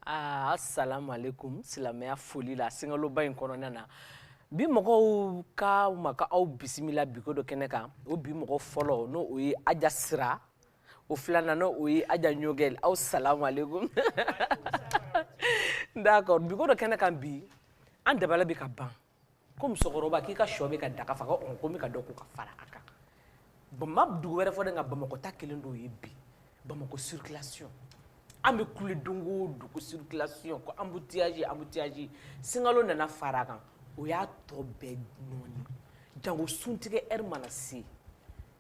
Ah, assalamu alaikum silamɛya foli la sunkaloba in kɔnɔna na bi mɔgɔw kama ka aw bisimila biko dɔ kɛnɛ kan o bi mɔgɔ fɔlɔ n'o o ye aja sira o filanan n'o o ye aja ɲogɛl aw salamu alaikum d'accord biko dɔ kɛnɛ kan bi an dabala bɛ ka ban ko musokɔrɔba k'i ka shɔ bɛ ka daga faga ɔn ko n bɛ ka dɔ ko ka fara a kan an ma dugu wɛrɛ fɔ dɛ nka bamakɔ ta kɛlen d'o ye bi bamakɔ circulation an bɛ kule don o dugu circulation ko embouteillage embouteillage sunkalo nana fara a kan o y'a tɔ bɛɛ nɔɔni jango suntigɛ heure mana se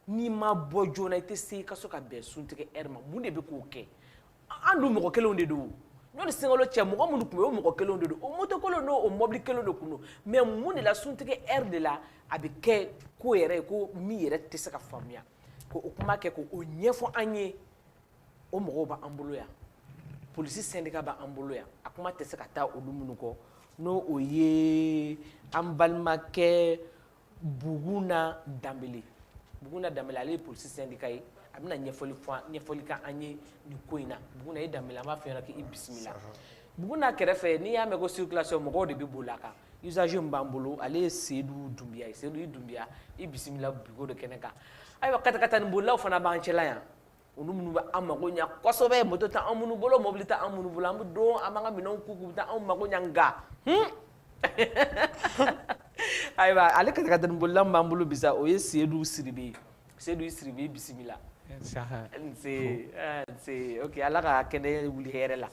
n'i ma bɔ joona i tɛ se i ka so ka bɛn suntigɛ heure ma mun de bɛ k'o kɛ an dun mɔgɔ kelenw de don yanni sunkalo cɛ mɔgɔ minnu tun bɛ o mɔgɔ kelenw de don o motokolo n'o o mɔbili kelenw de tun don mais mun de la suntigɛ heure de la a bɛ kɛ ko yɛrɛ ye ko min yɛrɛ tɛ se ka faamuya k'o kuma kɛ k'o ɲɛfɔ an ye o mɔgɔw b'an bolo yan polisi sɛndika b'an bolo yan a kuma tɛ se ka taa olu minnu kɔ n'o o ye an balimakɛ buguna danbele buguna danbele ale ye polisi sɛndika ye a bɛna ɲɛfɔli k'an ye nin ko in na buguna i danbele an b'a fɛ yɛrɛ k'i bisimila buguna kɛrɛfɛ n'i y'a mɛn ko circulation mɔgɔw de bɛ boli a kan usager min b'an bolo ale ye sedu dunbiya ye sedu i dunbiya i bisimila biko dɔ kɛnɛ kan ayiwa katakatani bolilaw fana b'an cɛla yan olu minnu bɛ an mago ɲa kosɛbɛ moto tɛ an minnu bolo mobili tɛ an minnu bolo an bɛ don an b'an ka minɛnw k'u kun u bɛ taa anw mago ɲa nka hmm. ayiwa ale katakatanibolila min b'an bolo bi sa o ye sedu siribe ye sedu siribe i bisimila nse eh, nse ok ala ka kɛnɛ wuli hɛrɛ la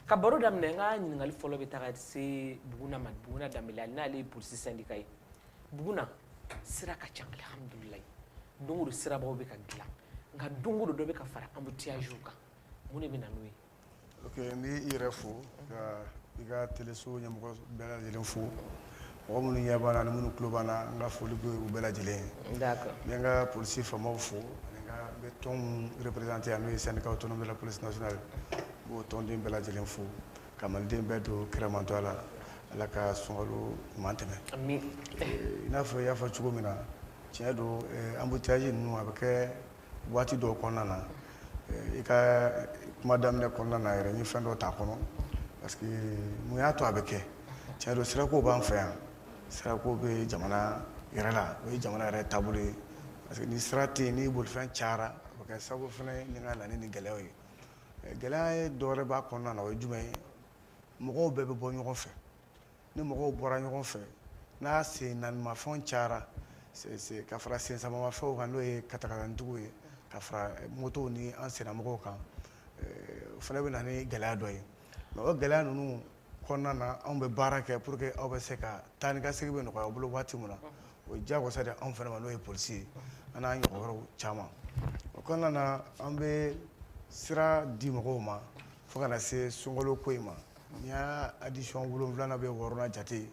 ka baro daminɛ n ka ɲininkali fɔlɔ bɛ taga se buguna ma buguna danbele n'ale ye polisi sɛndika ye buguna sira ka ca alihamudulilai don o don sirabaw bɛ ka dilan nka don o don dɔ bɛ ka fara embouteillages kan mun de bɛ na n'o ye ok n b'i yɛrɛ fo ka i ka teleso ɲɛmɔgɔ bɛɛ lajɛlen fo mɔgɔ minnu ɲɛ b'an na ani minnu tulo b'an na n ka foli bɛ u bɛɛ lajɛlen ye d'accord n bɛ n ka polisi faamaw fo ani n ka n bɛ tɔn minnu représenté yan n'o ye syndicat autonome de la police nationale n b'o tɔnden bɛɛ lajɛlen fo Ka maliden bɛɛ to kiramantɔya la Ala ka sunkalo ɲuman tɛmɛ. Ami! I n'a fɔ i y'a fɔ cogo min na, tiɲɛ don embouteillages ninnu a bɛ kɛ waati dɔw kɔnɔna na, i ka kuma daminɛ kɔnɔna na yɛrɛ n ye fɛn dɔ t'a kɔnɔ parce que mun y'a to a bɛ kɛ? Tiɲɛ don sirako b'an fɛ yan, sirako bɛ jamana yɛrɛ la, o ye jamana yɛrɛ taabolo ye parce que ni sira tɛ yen, ni bolifɛn cayara, o bɛ kɛ sababu fana ye ni ka na ni nin gɛlɛyaw ye. gɛlɛya ye dɔwɛrɛ b'a kɔnɔna na o ye jumɛn ye mɔgɔw bɛɛ bɛ bɔ ɲɔgɔn fɛ ni mɔgɔw bɔra ɲɔgɔn fɛ n'a sen naanimafɛnw cayara ka fara sen sabamafɛnw kan n'o ye katakatanitigiw ye ka fara motow ni an sennamɔgɔw kan o fana bɛ na ni gɛlɛya dɔ ye mais o gɛlɛya ninnu kɔnɔna na anw bɛ baara kɛ pour que aw bɛ se ka taa ni ka segin bɛ nɔgɔya aw bolo waati min na o ye diyagosa de anw fana ma n'o ye polisi ye an n'an ɲɔgɔn wɛrɛw caman o kɔnɔna na an bɛ sira di mɔgɔw ma fo ka na se sunkalo ko in ma n'i y'a addition wolonwulana bɛ wɔɔrɔnan jate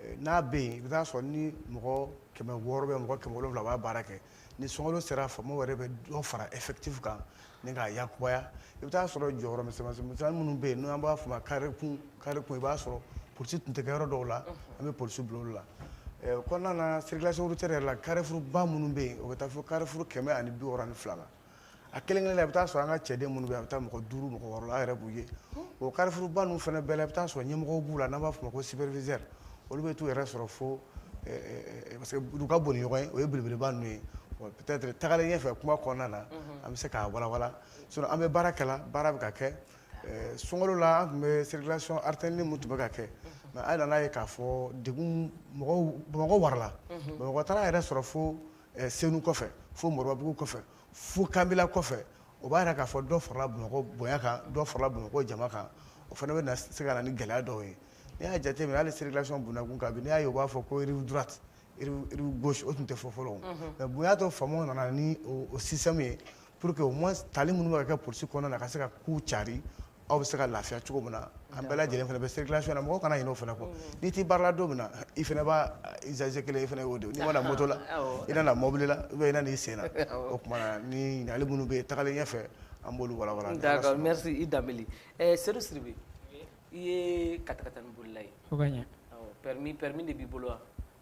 Eh, n'a bɛ yen i bɛ taa sɔrɔ ni mɔgɔ kɛmɛ wɔɔrɔ bɛ mɔgɔ kɛmɛ wolonwula b'a baara kɛ ni sunkalo sera faamaw yɛrɛ bɛ dɔ fara effectif kan ni k'a yakubaya i bɛ taa sɔrɔ jɔyɔrɔ misɛnmisɛnnin minnu bɛ yen n'an b'a fɔ ma kare kun kare kun i b'a sɔrɔ polisi tun tɛ kɛ yɔrɔ dɔw la an bɛ polisi bila olu la o kɔnɔna na circulation routière yɛrɛ la carrefour ba minnu bɛ yen o bɛ taa fo carrefour kɛmɛ ani bi wɔɔrɔ ni fila la a kelen kelen na i bɛ taa sɔrɔ an ka cɛden minnu bɛ yen a bɛ taa mɔgɔ duuru mɔgɔ wɔɔrɔ la an yɛrɛ b'u ye o carrefour ba ninnu fana bɛɛ la i bɛ taa sɔrɔ ɲɛmɔgɔw b'u la n'an b'a fɔ ma ko superviseur olu bɛ t'u yɛrɛ sɔrɔ fo eh, eh, eh, parce que u ka bon ni ɲɔgɔn ye o ye belebeleba ninnu ye peut-être tagalen ɲɛfɛ kuma kɔnɔna na mhm. an bɛ se k'a walawala sinon an bɛ baara kɛ la baara bɛ ka kɛ sunkalo la an tun bɛ circulation alternée min tun bɛ ka kɛ mais an nana ye k'a fɔ degun mɔgɔw bamakɔ warala mhm. bamakɔ taara yɛrɛ sɔrɔ fo eh, senu kɔfɛ fo moribabugu kɔfɛ fo kanbila kɔfɛ o b'a yira k'a fɔ dɔ farala bamakɔ bonya kan dɔ farala bamakɔ jama kan o fana bɛ se ka na ni gɛlɛya dɔw ye n'i y'a jateminɛ hali circulation bundakun kan bi n'i y'a ye u b'a fɔ ko rive droite rive gauche o tun tɛ fɔ fɔlɔ mais bonya tɔ faamaw nana ni o système ye pour que au moins tali minnu bɛ ka kɛ polisi kɔnɔna na ka se ka kow cari aw bɛ se ka lafiya cogo min na an bɛɛ lajɛlen fana bɛ circulation na mɔgɔ kana ɲinɛ o fana kɔ n'i tɛ baara la don min na i fana b'a usager kelen i fana y'o de ye n'i ma na moto la i nana mobili la ou bien i nana i sen na o tuma na ni ɲininkali minnu bɛ yen tagalen ɲɛfɛ an b'olu walawala. D'accord merci i Danbele ɛɛ Sedu Sidibe i ye katakatani bolila ye permis permis de b'i bolo wa.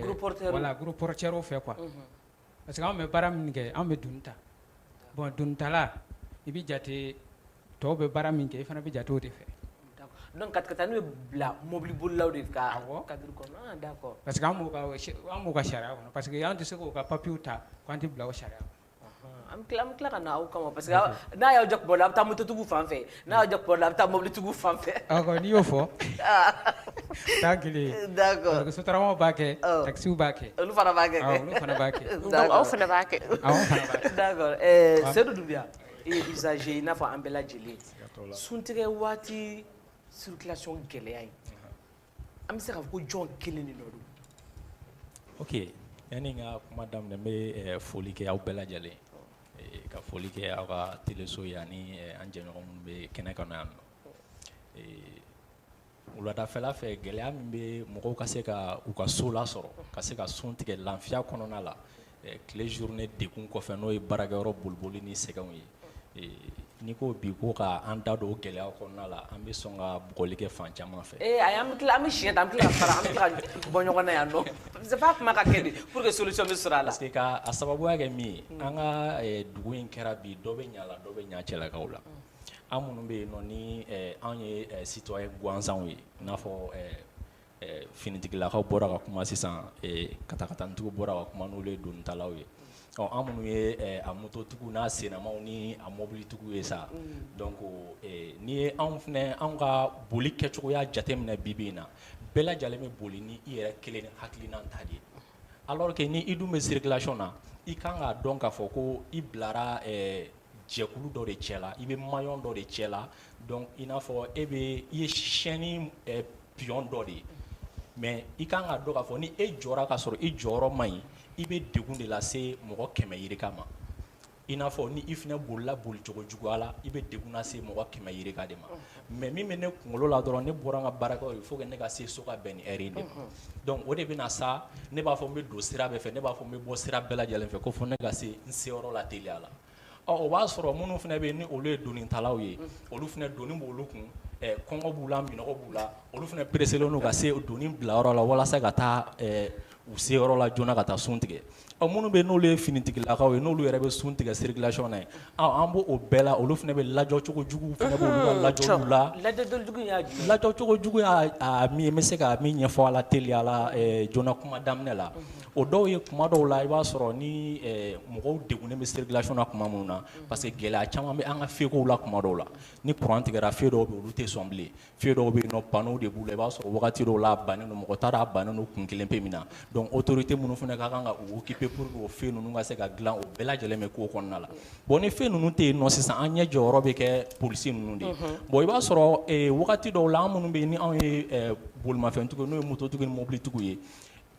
gros porteurs fɛ quoi parce que anw bɛ baara min kɛ anw bɛ duni ta bon dunitala i bɛ jate tɔw bɛ baara min kɛ i fana bɛ jate o de fɛ donc katakatani bɛ bila mɔbili bolilaw de ka cadre kɔnɔ parce que an b'u ka sariya kɔnɔ parce que an tɛ se k'o ka papier ta k'an tɛ bila o sariya an bɛ tila ka na aw kama parce que n'a y'aw ja bɔ la a bɛ taa mototigiw fan fɛ n'a y'aw ja bɔ la a bɛ taa mobilitigiw fan fɛ n'i y'o fɔ taa kelen d'accord sotaramaw b'a kɛ taxis b'a kɛ olu fana b'a kɛ olu fana b'a kɛ donc aw fana b'a kɛ aw fana b'a kɛ d'accord Sedu Dunbiya i ye usager i n'a fɔ an bɛɛ lajɛlen suntigɛ waati circulation gɛlɛya in an bɛ se k'a fɔ ko jɔn kelen de nɔ don ok yanni n ka kuma daminɛ n bɛ eh, foli kɛ aw bɛɛ lajɛlen eh, ka foli kɛ aw ka teleso ye ani eh, an jɛɲɔgɔn minnu bɛ kɛnɛ kan yan nɔ wuladafɛla fɛ gɛlɛya min bɛ mɔgɔw ka se ka u ka so lasɔrɔ ka se ka sun tigɛ lafiya kɔnɔna la tile journée degun kɔfɛ n'o ye baarakɛ yɔrɔ boliboli ni sɛgɛnw ye n'i ko bi ko ka an da don o gɛlɛya kɔnɔna la an bɛ sɔn ka bugɔli kɛ fan caman fɛ ee a an bɛ an bɛ siɲɛ ta an bɛ tila ka fara an bɛ tila ka bɔ ɲɔgɔn na yan nɔ c'est pas kuma ka kɛ pour que solution bɛ sɔrɔ a la parce que ka a sababuya kɛ min ye an ka dugu in kɛra bi dɔ bɛ ɲa la dɔ bɛ ɲa cɛlakaw la an minnu bɛ yen nɔ ni anw ye citoyen gansanw ye i n'a fɔ finitigilakaw bɔra ka kuma sisan katakatanintigiw bɔra ka kuma n'olu ye donitalaw ye ɔ an minnu ye a mototigiw n'a sennamaw ni a mɔbilitigiw ye sa donc n'i ye anw fana anw ka boli kɛcogoya jateminɛ bi-bi in na bɛɛ lajɛlen bɛ boli ni i yɛrɛ kelen ni hakilina ta de ye alors que ni i dun bɛ circulation na i kan k'a dɔn k'a fɔ ko i bilara jɛkulu dɔ de cɛ la i bɛ maillon dɔ de cɛ la donc i n'a fɔ e bɛ i ye chaîne eh, pion dɔ de ye mais i kan k'a dɔn k'a fɔ ni e jɔra k'a sɔrɔ i jɔyɔrɔ man ɲi i bɛ degun de lase mɔgɔ kɛmɛ yirika ma i n'a fɔ ni i fana bolila bolicogo juguya la i bɛ degun lase mɔgɔ kɛmɛ yirika de ma mais min bɛ ne kunkolo la dɔrɔn ne bɔra n ka baarakɛyɔrɔ il faut que ne ka se so ka bɛn ni heure in de ma donc o de bɛ na sa ne b'a fɔ n bɛ don sira bɛɛ fɛ ne b'a fɔ n bɛ bɔ sira bɛɛ lajɛlen fɛ ko fo ne ka se n se yɔrɔ la teliya la ɔ o b'a sɔrɔ minnu fana bɛ yen ni olu ye donitalaw ye olu fana doni b'olu kun ɛ kɔngɔ b'u la minɔgɔ b'u la olu fana pereselen don ka se doni bila yɔrɔ la walasa ka taa ɛ u se yɔrɔ la joona ka taa sun tigɛ ɔ minnu bɛ n'olu ye finitigilakaw ye n'olu yɛrɛ bɛ sun tigɛ circulation na yen ɔ an b'o o bɛɛ la olu fana bɛ lajɔ cogo juguw fana b'olu ka lajɔliw la lajɔli jugu in y'a jumɛn ye lajɔ cogo jugu y'a a min ye n bɛ se ka min ɲɛfɔ a la teliya la ɛɛ joona kuma daminɛ la o dɔw ye kuma dɔw la i b'a sɔrɔ ni ɛɛ mɔgɔw degunnen bɛ circulation na kuma minnu na parce que gɛlɛya caman bɛ an ka fekow la kuma dɔw la ni courant tigɛra fe dɔw bɛ yen olu tɛ sɔn bilen fe dɔw bɛ yen nɔ panneau de b'u la i b'a sɔrɔ wagati dɔw la a bannen don mɔgɔ t'a dɔn a bannen don kun kelen pe min na donc autorité minnu fana ka kan ka u occuper pour que o fe ninnu ka se ka dilan o bɛɛ lajɛlen bɛ ko kɔnɔna la bon ni fe ninnu tɛ yen nɔ sisan an ɲɛ jɔyɔrɔ bɛ kɛ polisi ninnu de ye bon i b'a sɔrɔ eh, wagati dɔw la an minnu bɛ yen ni anw ye eh, bolimafɛntigiw n'o ye mototigi ni mobilitigiw ye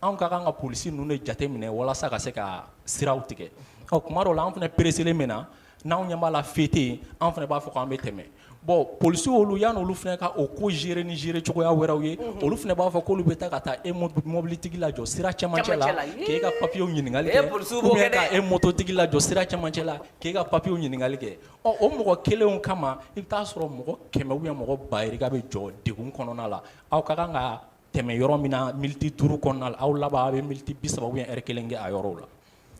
anw ka kan ka polisi ninnu de jate minɛ walasa ka se ka siraw tigɛ ɔ kuma dɔw la an fana pereselen min na n'anw ɲɛ b'a la fe tɛ yen an fana b'a fɔ k'an bɛ tɛmɛ bon polisiw olu yan olu fana ka o ko gérer ni gérer cogoya wɛrɛw ye olu fana b'a fɔ k'olu bɛ taa ka taa e mɔbilitigi lajɔ sira cɛmancɛ la k'e ka papiyew ɲininkali kɛ ou bien ka e mototigi lajɔ sira cɛmancɛ la k'e ka papiyew ɲininkali kɛ ɔ o mɔgɔ kelenw kama i bɛ taa sɔrɔ mɔgɔ kɛmɛ ou bien mɔgɔ ba yirika bɛ jɔ degun kɔnɔna la aw ka kan ka tɛmɛ yɔrɔ min na miniti duuru kɔnɔna la aw laban a bɛ miniti bi saba ou bien heure kelen kɛ a yɔrɔw la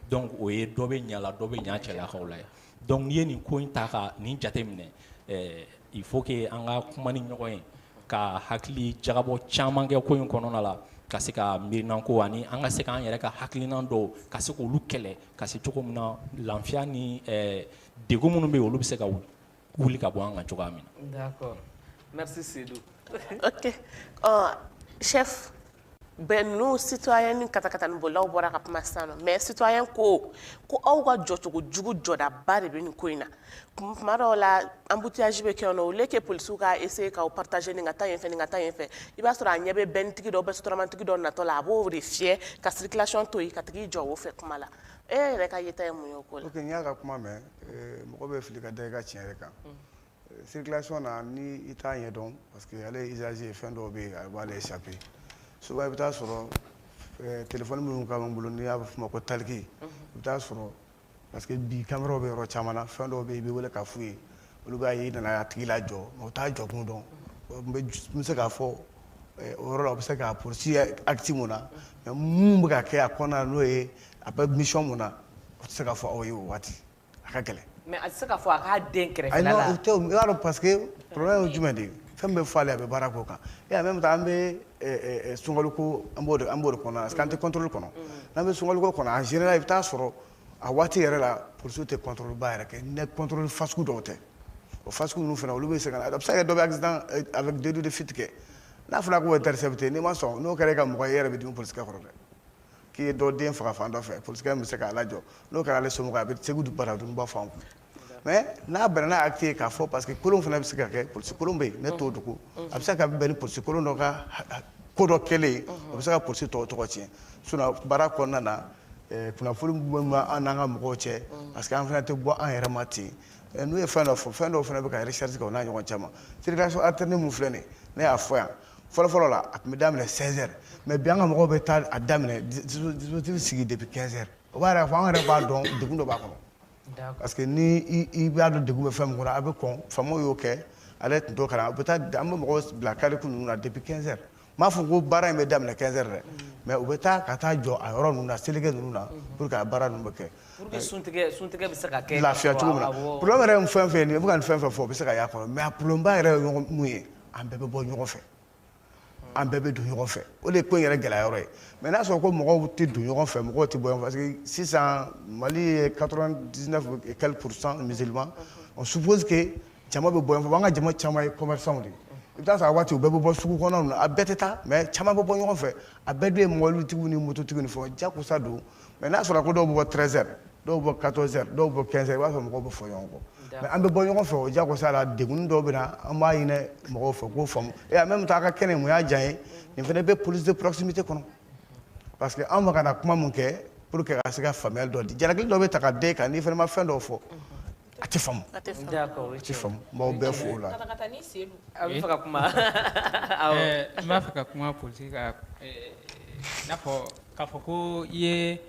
donc o ye dɔ bɛ ɲa la dɔ bɛ ɲa cɛlakaw la yan donc n'i ye nin ko in ta ka nin jate minɛ il faut que an ka kuma ni ɲɔgɔn ye ka hakili jagabɔ caman kɛ ko in kɔnɔna la ka se ka miirinan ko ani an ka se k'an yɛrɛ ka hakilina dɔw ka se k'olu kɛlɛ ka se cogo min na lafiya ni degun minnu bɛ olu bɛ se ka wuli wuli ka bɔ an kan cogoya min na. d'accord merci Seydou. ok ɔ chef bɛn ninnu citoyen ni katakatani bolilaw bɔra ka kuma sisan nɔ mais citoyen ko ko aw ka jɔcogo jugu jɔdaba de bɛ nin ko in na tuma dɔw la embouteillage bɛ kɛ yen nɔ au lieu que polisiw ka essayer k'aw partager nin ka taa yen fɛ nin ka taa yen fɛ i b'a sɔrɔ a ɲɛ bɛ bɛnitigi dɔ bɛ sotaramantigi dɔ natɔ la a b'o de fiyɛ ka circulation to yen k'a tigi jɔ o fɛ kuma la e yɛrɛ ka yeta ye mun ye o ko la. ok n y'a ka kuma mɛn. Eh, mɔgɔ bɛ fili ka da i ka tiɲɛ yɛrɛ kan eh, circulation na ni i t'a ɲɛdɔn parce que ale usager fɛn dɔw bɛ yen a b'ale échapper souvent i bɛ taa sɔrɔ eh, téléphone minnu ka b'an bolo n'i y'a f'o ma ko talkie i bɛ taa sɔrɔ parce que bi caméraw bɛ yɔrɔ caman na fɛn dɔw bɛ yen i bɛ wele k'a f'u ye olu b'a ye i nana a tigi lajɔ mais u t'a jɔkun dɔn n bɛ n bɛ se k'a fɔ o yɔrɔ la u bɛ se k'a poursuivre acte mun na mais mun bɛ ka kɛ a kɔnɔna na n'o ye a bɛ mission mun na o tɛ se ka fɔ aw ye o waati a ka gɛlɛn. mais a tɛ se k'a fɔ a k'a dɛn kɛrɛfɛla la. ayi non o tɛ o i b'a dɔn parce que problème ye jumɛn de ye fɛn min bɛ fɔ ale a bɛ baara k'o kan et en même temps an bɛ sunkaloko an b'o de an b'o de kɔnɔ parce que an tɛ contrôle kɔnɔ n'an bɛ sunkaloko kɔnɔ en général i bɛ taa sɔrɔ a waati yɛrɛ la polisiw tɛ contrôle ba yɛrɛ kɛ ni contrôle fasugu dɔw tɛ o fasugu ninnu fana olu bɛ se ka na a bɛ se ka kɛ dɔ bɛ accident avec délit de fuite kɛ n'a fɔra k'o intercepter n'i ma sɔn n'o kɛra e ka mɔgɔ ye e yɛrɛ bɛ dimi polisikɛ kɔrɔ dɛ. k'i ye dɔ den faga fan dɔ fɛ polisikɛ bɛ se k'a lajɔ n'o kɛra ale somɔgɔ a bɛ segu baradunba fan kun mais n'a bɛnna n'a acte ye k'a fɔ parce que kolon fana bɛ se ka kɛ polisi kolon bɛ yen ne t'o dogo a bɛ se ka bɛn ni polisi kolon dɔ ka ko dɔ kɛlen ye o bɛ se ka polisi tɔw tɔgɔ tiɲɛ sinon baara kɔnɔna na eh, kunnafoni min bɛ an n'an ka mɔgɔw cɛ parce que an fana tɛ bɔ an yɛrɛ ma ten eh, n'u ye fɛn dɔ fɔ fɛn dɔw fana bɛ ka recherche kɛ o n'a ɲɔgɔn caman circulation alternée min filɛ nin ye ne y'a fɔ yan fɔlɔfɔlɔ la a tun bɛ daminɛ 16 heures mais bi an ka mɔgɔw bɛ taa a daminɛ dispositif sigi depuis 15 heures o b'a yɛrɛ fɔ an yɛrɛ b'a dɔn degun dɔ b'a kɔnɔ parce que ni i b'a dɔn degun bɛ fɛn min kɔnɔ a bɛ kɔn faamaw y'o kɛ ale tun t'o kalama a bɛ taa an bɛ mɔgɔw bila carrefour ninnu na depuis 15 heures n m'a fɔ ko baara in bɛ daminɛ 15 heures dɛ mais u bɛ taa ka taa jɔ a yɔrɔ ninnu na seleke ninnu na pour que a baara ninnu bɛ kɛ pour que suntigɛ suntigɛ bɛ se ka kɛ lafiya cogo min na problème yɛrɛ ye fɛn fɛn ye nin ye i bɛ ka nin fɛn fɛn fɔ o bɛ se ka y'a kɔnɔ mais a problème ba yɛrɛ ye mun ye an bɛɛ bɛ bɔ ɲɔgɔn fɛ an bɛɛ bɛ don ɲɔgɔn fɛ o de ye ko in yɛrɛ gɛlɛya yɔrɔ ye mais n'a sɔrɔ ko mɔgɔw tɛ don ɲɔgɔn fɛ mɔgɔw tɛ bɔ ɲɔgɔn fɛ parce que sisan mali ye 99 et quelques pourcent musulman on suppose que jama bɛ bɔ ɲɔgɔn fɛ an ka jama caman ye commerçants de ye i bɛ taa sɔrɔ a waati u bɛɛ bɛ bɔ sugu kɔnɔnaw na a bɛɛ tɛ taa mais caman bɛ bɔ ɲɔgɔn fɛ a bɛɛ dun ye mɔbilitigiw ni mototigiw ni fɛnw jakosa don mais n'a sɔrɔ ko dɔw bɛ bɔ 13 heures dɔw bɛ bɔ 14 heures dɔw bɛ bɔ 15 heures i b'a sɔrɔ mɔgɔw bɛ fɔ ɲɔgɔn kɔ mais an bɛ bɔ ɲɔgɔn fɛ o jagosa la degun dɔw bɛ na an b'a ɲini mɔgɔw fɛ k'o faamu et en même temps a ka kɛnɛ mun y'a diya n ye nin fana bɛ police de proximité kɔnɔ parce que anw bɛ ka na kuma mun kɛ pour que ka se ka faamuyali dɔ di jalaki dɔ bɛ ta ka d'e kan n'i fana ma fɛn dɔw fɔ a tɛ faamu a tɛ faamu n b'aw bɛɛ fo o la a bɛ fɛ ka kuma n b'a fɛ ka kuma polisi kan n'a fɔ k'a fɔ ko i ye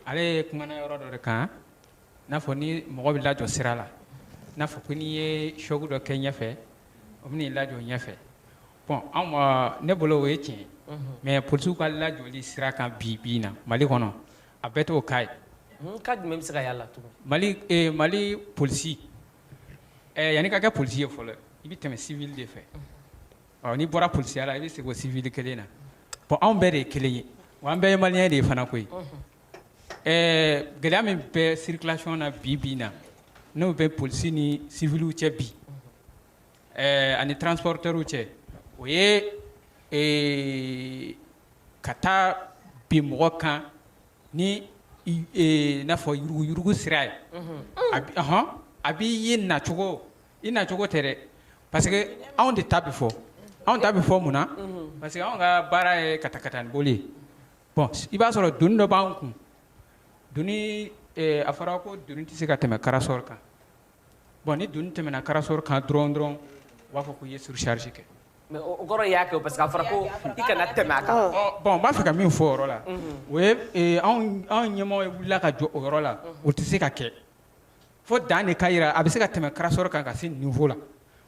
ale ye kumana yɔrɔ dɔ de kan n'a fɔ ni mɔgɔ bɛ lajɔ sira la n'a fɔ ko n'i ye choc dɔ kɛ ɲɛfɛ o bɛ n'i lajɔ ɲɛfɛ bon anw ma ne bolo o ye tiɲɛ ye mais polisiw ka lajɔli sira kan bi bi in na mali kɔnɔ A bɛɛ t'o cas ye cas jumɛn bɛ se ka y'a la tugun mali mali polisi yanni ka kɛ polisi ye fɔlɔ i bɛ tɛmɛ civil de fɛ ɔ n'i bɔra polisiya la i bɛ segin o civil kelen na bon anw bɛɛ de ye kelen ye wa an bɛɛ ye maliyɛn de ye fana koyi ɛɛ gɛlɛya min bɛ circulation na bi bi in na n'o bɛ polisi ni civilw cɛ bi ɛɛ ani transporteurw cɛ o ye ka taa bin mɔgɔ kan ni n'a fɔ yuruguurugu sira ye ahɔn a b'i ye nacogo i nacogo tɛ dɛ parce que anw de ta bɛ fɔ anw ta bɛ fɔ mun na parce que anw ka baara ye katakatani boli ye bon i b'a sɔrɔ doni dɔ b'an kun doni a fɔra ko doni tɛ se ka tɛmɛ carrosserie kan Bon ni doni tɛmɛna carrosserie kan dɔrɔn dɔrɔn u b'a fɔ ko i ye surcharge kɛ. Mais o kɔrɔ y'a kɛ parce que a fɔra ko i kana tɛmɛ a kan. Bon n b'a fɛ ka min fɔ o yɔrɔ la, o ye ee anw ɲɛmɔgɔ wulila ka jɔ o yɔrɔ la, o tɛ se ka kɛ fo dan de ka yira a bɛ se ka tɛmɛ carrosserie kan ka se nin niveau la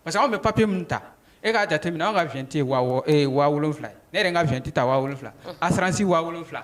parce que anw bɛ papier min ta e k'a jateminɛ anw ka vignette ye wa wɔɔrɔ ee wa wolonwula ye ne yɛrɛ ka vignette ta wa wolonwula ye assurance wa wolonwula.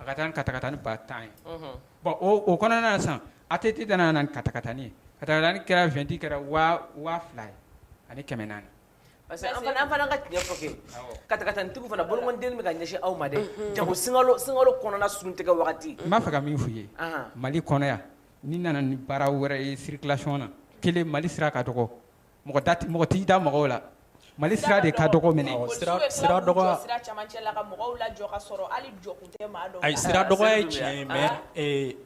A ka taa katakatani ba tan ye bon o kɔnɔna sisan ATT nana ni katakatani ye katakatani kɛra vingt kɛra waa fila ye ani kɛmɛ naani parce que an fana ka tiɲɛ fɔ kɛ katakatanitigiw fana boloden bɛ ka ɲɛsin aw ma dɛ janko sunkalo kɔnɔna sun tigɛ wagati n b'a fɛ ka min fɔ i ye mali kɔnɔ yan nin nana ni baara wɛrɛ ye circulation na kelen mali sira ka dɔgɔ mɔgɔ da tɛ mɔgɔ t'i da mɔgɔw la Mali sira de ka dɔgɔ mɛnɛ awɔ sira sira dɔgɔ a sira cɛmancɛ la ka mɔgɔw lajɔ ka sɔrɔ hali jɔ kun tɛ maa dɔw la ayi sira dɔgɔya ye tiɲɛ ye mais ee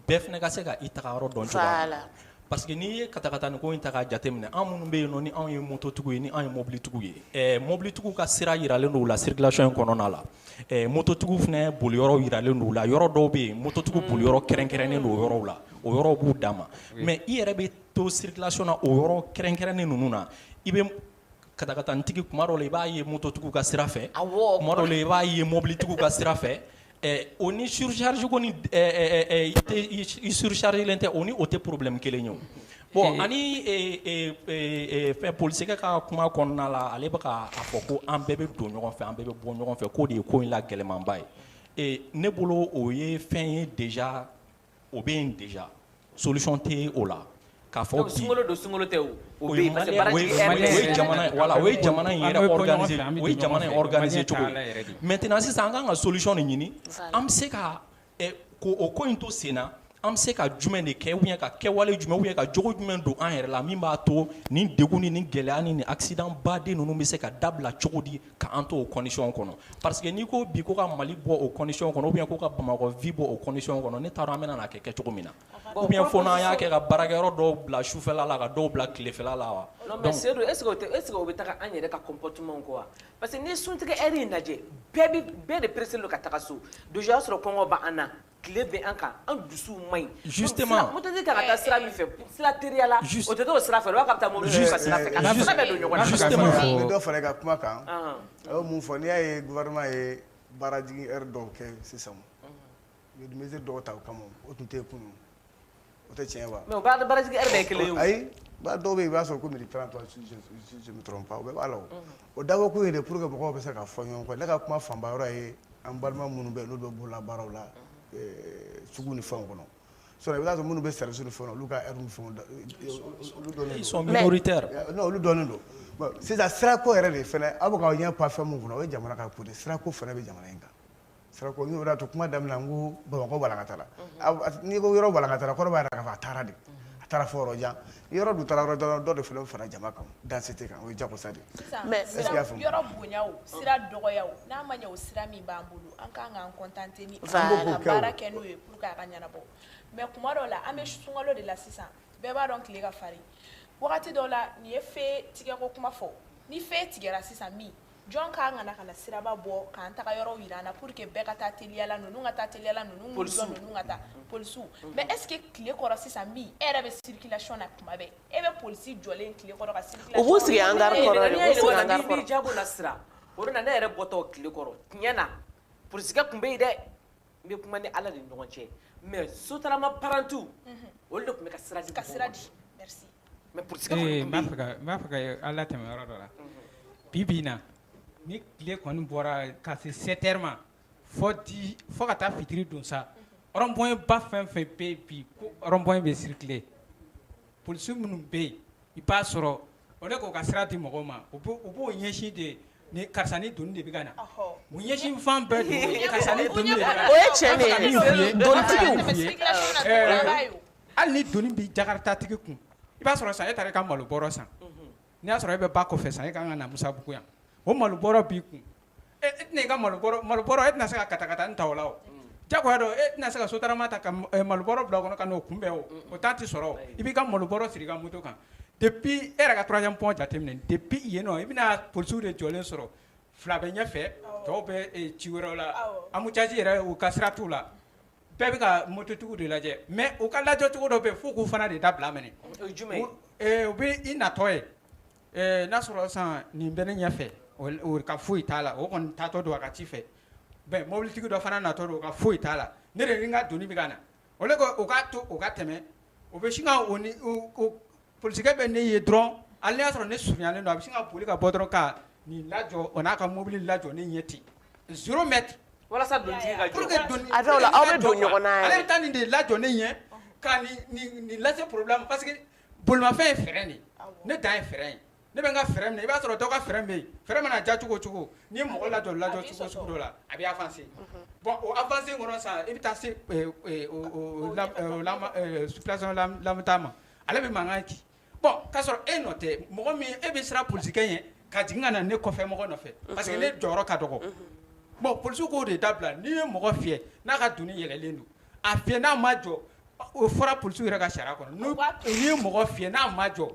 bɛɛ fɛnɛ ka se ka i tagayɔrɔ dɔn cogoya min na voilà parce que n'i ye katakatani ko in ta k'a jate minɛ an minnu bɛ yen nɔ ni anw ye moto tigiw ye ni anw ye mobili tigiw ye ɛɛ mobili tigiw ka sira yiralen don u la circulation in kɔnɔna la ɛɛ moto tigiw fɛnɛ boli yɔrɔw yiralen don u la yɔrɔ dɔw bɛ yen moto tigiw boli yɔrɔ kɛrɛnkɛrɛnnen don o yɔrɔw la o yɔrɔw b'u dan ma mais i yɛrɛ bɛ to circulation na o yɔrɔ kɛrɛnkɛrɛnnen ninnu na i bɛ katakatanitigi kuma dɔ la i b'a ye mototigiw ka sira fɛ kuma dɔ la i b'a ye mɔbilitigiw ka sira fɛ o ni surcharge ko ni i surchargelen tɛ o ni o tɛ problème kelen ye bon ani fɛn polisikɛ ka kuma kɔnɔna la ale bɛ k'a fɔ ko an bɛɛ bɛ don ɲɔgɔn fɛ an bɛɛ bɛ bɔ ɲɔgɔn fɛ k'o de ye ko in la gɛlɛmanba ye ne bolo o ye fɛn ye déjà o bɛ yen déjà solution tɛ o la k'a fɔ bi sunkalo don sunkalo tɛ o o bɛ yen parce que baarajigin heure bɛɛ o ye jamana ye voilà o ye jamana in yɛrɛ organiser o ye jamana in organiser cogo ye maintenant sisan an ka kan ka solution de ɲini an bɛ se ka ɛ ko o ko in to sen na an bɛ se ka jumɛn de kɛ ou bien ka kɛwale jumɛn ou bien ka jogo jumɛn don an yɛrɛ la min b'a to nin degun ni nin gɛlɛya ni nin accident baden ninnu bɛ se ka dabila cogo di Ka an to o condition kɔnɔ parce que n'i ko bi ko ka Mali bɔ o condition kɔnɔ ou bien ko ka Bamakɔ vie bɔ o condition kɔnɔ ne t'a dɔn an bɛna n'a kɛ kɛcogo min na ou bien fo n'an y'a kɛ ka baarakɛyɔrɔ dɔw bila sufɛla la ka dɔw bila tilefɛla la wa non mais Sedu est ce que o tɛ est ce que o bɛ taga an yɛrɛ ka comportement kɔ wa parce que n'i ye suntigɛ heure in lajɛ bɛɛ bɛ bɛɛ de pressé len don ka taga so déjà o y'a sɔrɔ kɔngɔ bɛ an na tile bɛ an kan an dusuw man ɲi justement mototigi kan ka taa sira min fɛ sira teriyala o tɛ t'o sira fɛ k'a bɛ taa mɔbilitigi ka sira fɛ ka taa sira bɛɛ don ɲɔgɔn na justement n bɛ dɔ fara i ka kuma kan a ye mun fɔ n'i y'a ye gouvernement ye baarajigin heure dɔw kɛ sisan u ye mesure dɔw ta o kama o tun tɛ yen kunun o tɛ tiɲɛ wa. mais o baarajigin heure bɛɛ kelen ye o. ayi ba dɔw bɛ yen i b'a sɔrɔ ko midi trente si je me trompe pas o bɛɛ b'a la o. o dabɔ kun ye de pour que mɔgɔw bɛ se ka fɔ ɲɔgɔn kɔ ne ka kuma fanba yɔrɔ ye an balima minnu bɛ yen n'olu bɛ bolola baaraw la sugu ni fɛnw kɔnɔ. sinon i b'a sɔrɔ minnu bɛ service ni fɛnw na olu ka heure ni fɛnw olu dɔnnen don. ils sont minoritaires. non olu dɔnnen don bon sisan sirako yɛrɛ de fana aw bɛ k'aw ɲɛ pan fɛn min kunna o ye jamana ka ko de ye sirako fana bɛ jamana in kan. Sirako n'o de y'a to kuma daminɛ n ko Bamakɔ walankatara, unhun, n'i ko yɔrɔ walankatara kɔrɔ b'a jira k'a fɔ a taara de, unhun, a taara fɔ yɔrɔ jan, ni yɔrɔ dun taara yɔrɔ jan dɔ de fana bɛ fara jama kan densité kan o ye jagosa de ye, sisan, mais est-ce que i y'a faamu, yɔrɔ bonya o, sira dɔgɔya o, n'a ma ɲɛ o sira min b'an bolo an ka kan k'an contenter ni o ye, voilà, ka baara kɛ n'o ye pour que a ka ɲɛnabɔ mais tuma dɔw la an bɛ sunkalo de la sisan bɛɛ b'a dɔn tile ka farin wagati dɔw la n'i ye feu tigɛko kuma fɔ ni feu tigɛra sisan min jɔn ka kan ka na siraba bɔ k'an tagayɔrɔw yira an na pour que bɛɛ ka taa teliya la ninnu ka taa teliya la ninnu n'u jɔ ninnu ka taa polisiw mais est ce que tile kɔrɔ sisan min e yɛrɛ bɛ circulation na tuma bɛɛ e bɛ polisi jɔlen tile kɔrɔ ka circulation u b'u sigi hangar kɔrɔ de u b'u sigi hangar kɔrɔ jago la sira o de la ne yɛrɛ bɔtɔ tile kɔrɔ tiɲɛ na polisikɛ tun bɛ yen dɛ n bɛ kuma ni ala de ɲɔgɔn cɛ mais sotarama parantiw olu de tun bɛ ka sira ka sira di mais n b'a fɛ k'a latɛmɛ yɔrɔ dɔ la bi bi in na ni tile kɔni bɔra ka se sept heures ma fɔ di fo ka taa fitiri don sa rond-point ba fɛn fɛn bɛ bi ko rond-point bɛ circuler Polisi minnu bɛ yen i b'a sɔrɔ o de k'o ka sira di mɔgɔw ma u b'u ɲɛsin de ye ni karisa ni doni de bɛ ka na u ɲɛsin fan bɛɛ de o ye karisa ni doni o ye tiɲɛ de ye hali ni doni bɛ jakartatigi kun i b'a sɔrɔ sa e taara i ka malo bɔrɔ san N'i y'a sɔrɔ e bɛ ba kɔfɛ sa e ka kan ka na Musabugu yan o malo bɔrɔ b'i kun e tɛna i ka malo bɔrɔ e tɛna se ka katakatanin ta o la o diyagoya don e tɛna se ka sotarama ta ka malo bɔrɔ bila o kɔnɔ ka n'o kunbɛn o o temps tɛ sɔrɔ o i b'i ka malo bɔrɔ siri i ka moto kan depuis e yɛrɛ ka troisième pont jateminɛ depuis yen nɔ i bɛna polisiw de jɔlen sɔrɔ fila bɛ ɲɛfɛ tɔw bɛ ci wɛrɛw la embouteillage yɛrɛ u ka sira t'u la Bɛɛ bɛ ka mototigiw de lajɛ mais u ka lajɔcogo dɔ bɛ yen f'u k'o fana de dabila minɛ, o ye jumɛn ye, u bɛ i natɔ ye n'a sɔrɔ sisan nin bɛ ne ɲɛfɛ o ka foyi t'a la o kɔni taatɔ don a ka ci fɛ mais mobilitigi dɔ fana natɔ don o ka foyi t'a la ne de ni n ka doni bɛ ka na au lieu que u k'a to o ka tɛmɛ O bɛ sin ka o ni o o polisikɛ bɛ ne ye dɔrɔn hali n'a y'a sɔrɔ ne surunyalen don a bɛ sin ka boli ka bɔ dɔrɔn ka nin lajɔ o n'a ka mobili lajɔ ne ɲɛ ten zéro mètre walasa donitigi ka jɔ pour que doni a dɔw la aw bɛ don ɲɔgɔn na yɛrɛ ale bɛ taa nin de lajɔ ne ɲɛ ka nin nin nin lase problème ma parce que bolimafɛn ye frein de ye awɔ ne dan ye frein ye ne bɛ n ka frein minɛ i b'a sɔrɔ dɔ ka frein bɛ yen frein mana ja cogo cogo ni mɔgɔ lajɔ lajɔ cogo sugu dɔ la a bɛ avancer unhun, bon o avancer kɔnɔ sa i bɛ taa se ɛ ɛ o o la ɛ o la ɛ circulation la lamɛtaa ma ale bɛ mankan ci bon k'a sɔrɔ e nɔ tɛ mɔgɔ min e bɛ siran polisikɛ ɲɛ ka jigin ka na ne kɔfɛ mɔgɔ nɔfɛ unhun, parce que ne jɔyɔrɔ ka dɔgɔ unhun, bon polisiw k'o de dabila n'i ye mɔgɔ fiyɛ n'a ka doni yɛlɛlen don a fiyɛ n'a ma jɔ o fɔra polisiw yɛrɛ ka sariya kɔnɔ n'u n'i ye mɔgɔ fiyɛ n'a ma jɔ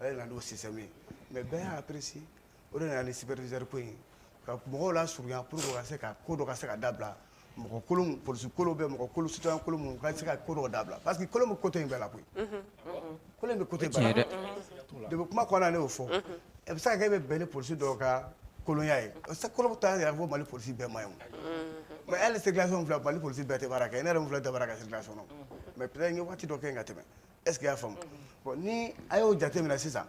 ale nana n'o système ye mais bɛɛ y'a apprécier o de nana ni superviseur ko in ka mɔgɔw lasurunya pour que ka se ka ko dɔ ka se ka dabila mɔgɔ kolon polisi kolon bɛ mɔgɔ kolon citoyen kolon minnu ka se ka ko dɔ dabila parce que kolon bɛ côté in bɛɛ la koyi kolon bɛ côté bɛɛ la depuis kuma kɔnɔna ne y'o fɔ a bɛ se ka kɛ e bɛ bɛn ni polisi dɔw ka kolonya ye kolon t'a yɛrɛ fɔ mali polisi bɛɛ ma ye mais hali circulation filɛ mali polisi bɛɛ tɛ baara kɛ ne yɛrɛ min filɛ tɛ baara kɛ circulation na mais peut-être n ye waati dɔ kɛ yen ka tɛmɛ est ce que i y'a faamu bon ni a y'o jate minɛ sisan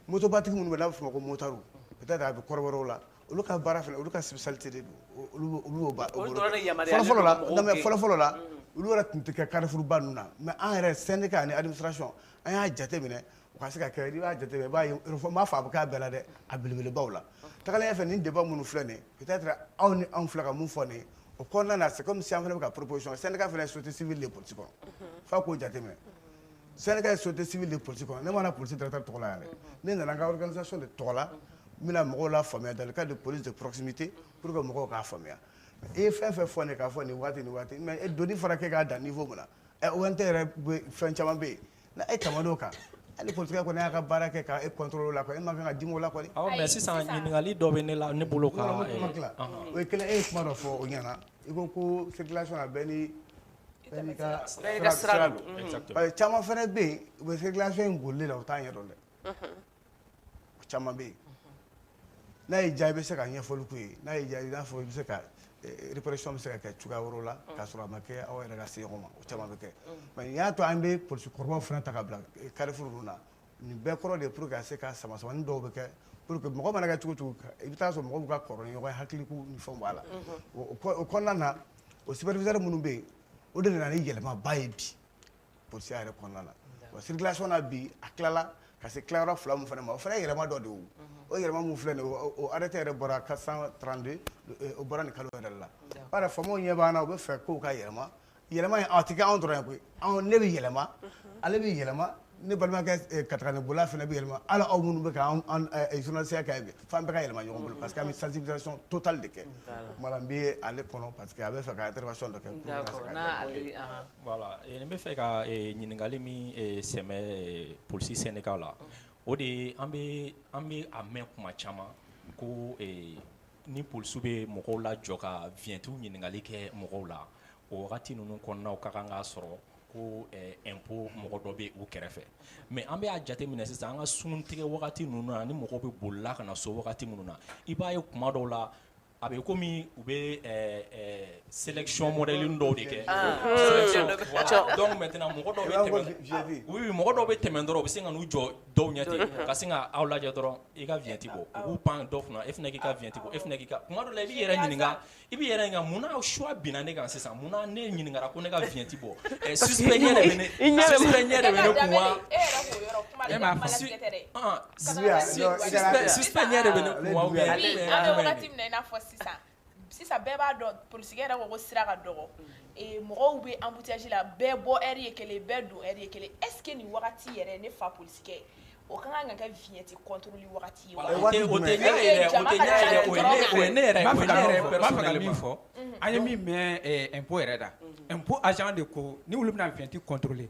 motobatigi minnu bɛ n'a bɛ f'o ma ko motard peut être a bɛ kɔrɔbɔrɔw la olu ka baara fana olu ka spécialité de don olu olu y'o ba olu dɔrɔn de yamaruyalen fɔlɔfɔlɔ la don mɔgɔw non mais gɛn. fɔlɔfɔlɔ la olu yɛrɛ tun tɛ kɛ carrefourba ninnu na mais an yɛrɛ syndicat ani administration an y'a jate minɛ u ka se ka kɛ n'i b'a jate minɛ i b'a ye n m'a fɔ a bɛ k'a bɛɛ la dɛ a belebelebaw la tagalen ɲɛfɛ nin débat minnu filɛ nin ye peut-être aw ni anw filɛ ka mun fɔ nin ye o kɔnɔna na c'est comme si an fana bɛ ka proposition syndicat fana ye société civile de politique kɔnɔ f'a k'o jateminɛ syndicat ye société civile de politique kɔnɔ ne ma na police directeur tɔgɔ la yan dɛ ne nana n ka organisation de tɔgɔ la n bɛna mɔgɔw lafaamuya dans le cadre de police de proximité pour que mɔgɔw k'a faamuya i ye fɛn fɛn fɔ ne k'a fɔ nin waati nin waati mais doni fana kɛ k'a dan niveau min na ONT yɛrɛ bɛ fɛn caman bɛ yen ni e tɛmɛn'o kan hali polisikɛ kɔni y'a ka baara kɛ ka e contrôler o la e man kan ka dimi o la kɔni mais sisan ɲininkali dɔ bɛ ne la ne bolo ka o ye kelen e ye kuma dɔ fɔ o ɲɛna i ko ko circulation na bɛɛ n'i ka sira don parce que caman fana bɛ yen u bɛ circulation in bolili la u t'a ɲɛdɔn dɛ o caman bɛ yen n'a y'i diya i bɛ se ka ɲɛfɔli k'u ye n'a y'i diya i n'a fɔ i bɛ se ka eh, répression bɛ se ka kɛ cogoya wɛrɛw la k'a sɔrɔ a ma kɛ aw yɛrɛ ka se ɲɔgɔn ma o caman bɛ kɛ mais nin y'a to an bɛ polisi kɔrɔbaw fana ta ka bila eh, carrefour ninnu na nin bɛɛ kɔrɔ de ye pour que ka se ka samasamani dɔw bɛ kɛ pour que mɔgɔ mana kɛ cogo o cogo ka- i bɛ taa sɔrɔ mɔgɔw b'u ka kɔrɔ ni ɲɔgɔn ye hakiliko ni fɛnw b'a la o o kɔ- o kɔnɔna na o superviseur minnu bɛ yen o de nana ni yɛlɛmaba ye bi polisi yɛrɛ kɔnɔna na wa circulation na bi a tilala ka se tilayɔrɔ fila min fana ma o fana ye yɛlɛma dɔ de ye o yɛlɛma min filɛ nin ye o arrêté yɛrɛ bɔra 432 o bɔra nin kalo yɛrɛ la b'a dɔn faamaw ɲɛ b'an na u bɛ fɛ kow ka yɛlɛma yɛlɛma in a tɛ kɛ anw dɔrɔn ye koyi anw ne bɛ yɛlɛma ale bɛ yɛlɛma ne balimakɛ katakatanibolila fana bɛ yɛlɛma hali aw minnu bɛ ka journalisiya kɛ bi f'an bɛɛ ka yɛlɛma ɲɔgɔn bolo parce que an bɛ sensibilisation totale de kɛ o tuma la n bɛ ale kɔnɔ parce que a bɛ fɛ ka intervention dɔ kɛ. Voilà ee n bɛ fɛ ka ee ɲininkali min ee sɛmɛ ee police syndicat la o de ye an bɛ an bɛ a mɛn tuma caman ko ee ni polisiw bɛ mɔgɔw lajɔ ka vignettew ɲininkali kɛ mɔgɔw la o wagati ninnu kɔnɔna u ka kan k'a sɔrɔ ko ɛɛ impôt mɔgɔ dɔ bɛ u kɛrɛfɛ mais an bɛ a jateminɛ sisan an ka suntigɛ wagati ninnu na ni mɔgɔw bɛ bolila ka na so wagati minnu na i b'a ye tuma dɔw la A bɛ kɔmi u bɛ sélection modèle dɔw de kɛ donc maintenant mɔgɔ dɔw bɛ tɛmɛ dɔrɔn u bɛ se ka n'u jɔ dɔw ɲɛ ten ka sin ka aw lajɛ dɔrɔn i ka viɲɛti bɔ u b'u pan dɔw kunna e fana k'i ka viɲɛti bɔ e fana k' kuma dɔw la i b'i yɛrɛ ɲininka i b'i yɛrɛ ɲininka munna choix binna ne kan sisan munna ne ɲininkara ko ne ka viɲɛti bɔ suspect ɲɛ Sisan bɛɛ b'a dɔn poli yɛrɛ ko sira ka dɔgɔ mɔgɔw bɛ anbusi la bɛɛ bɔ ye kelen bɛɛ don ye kelen e ni wagati yɛrɛ ne fa poli o ka kan ka kɛ vyeti fɔ an ye min mɛn yɛrɛ da de ko ni bɛna fiti kɔntoli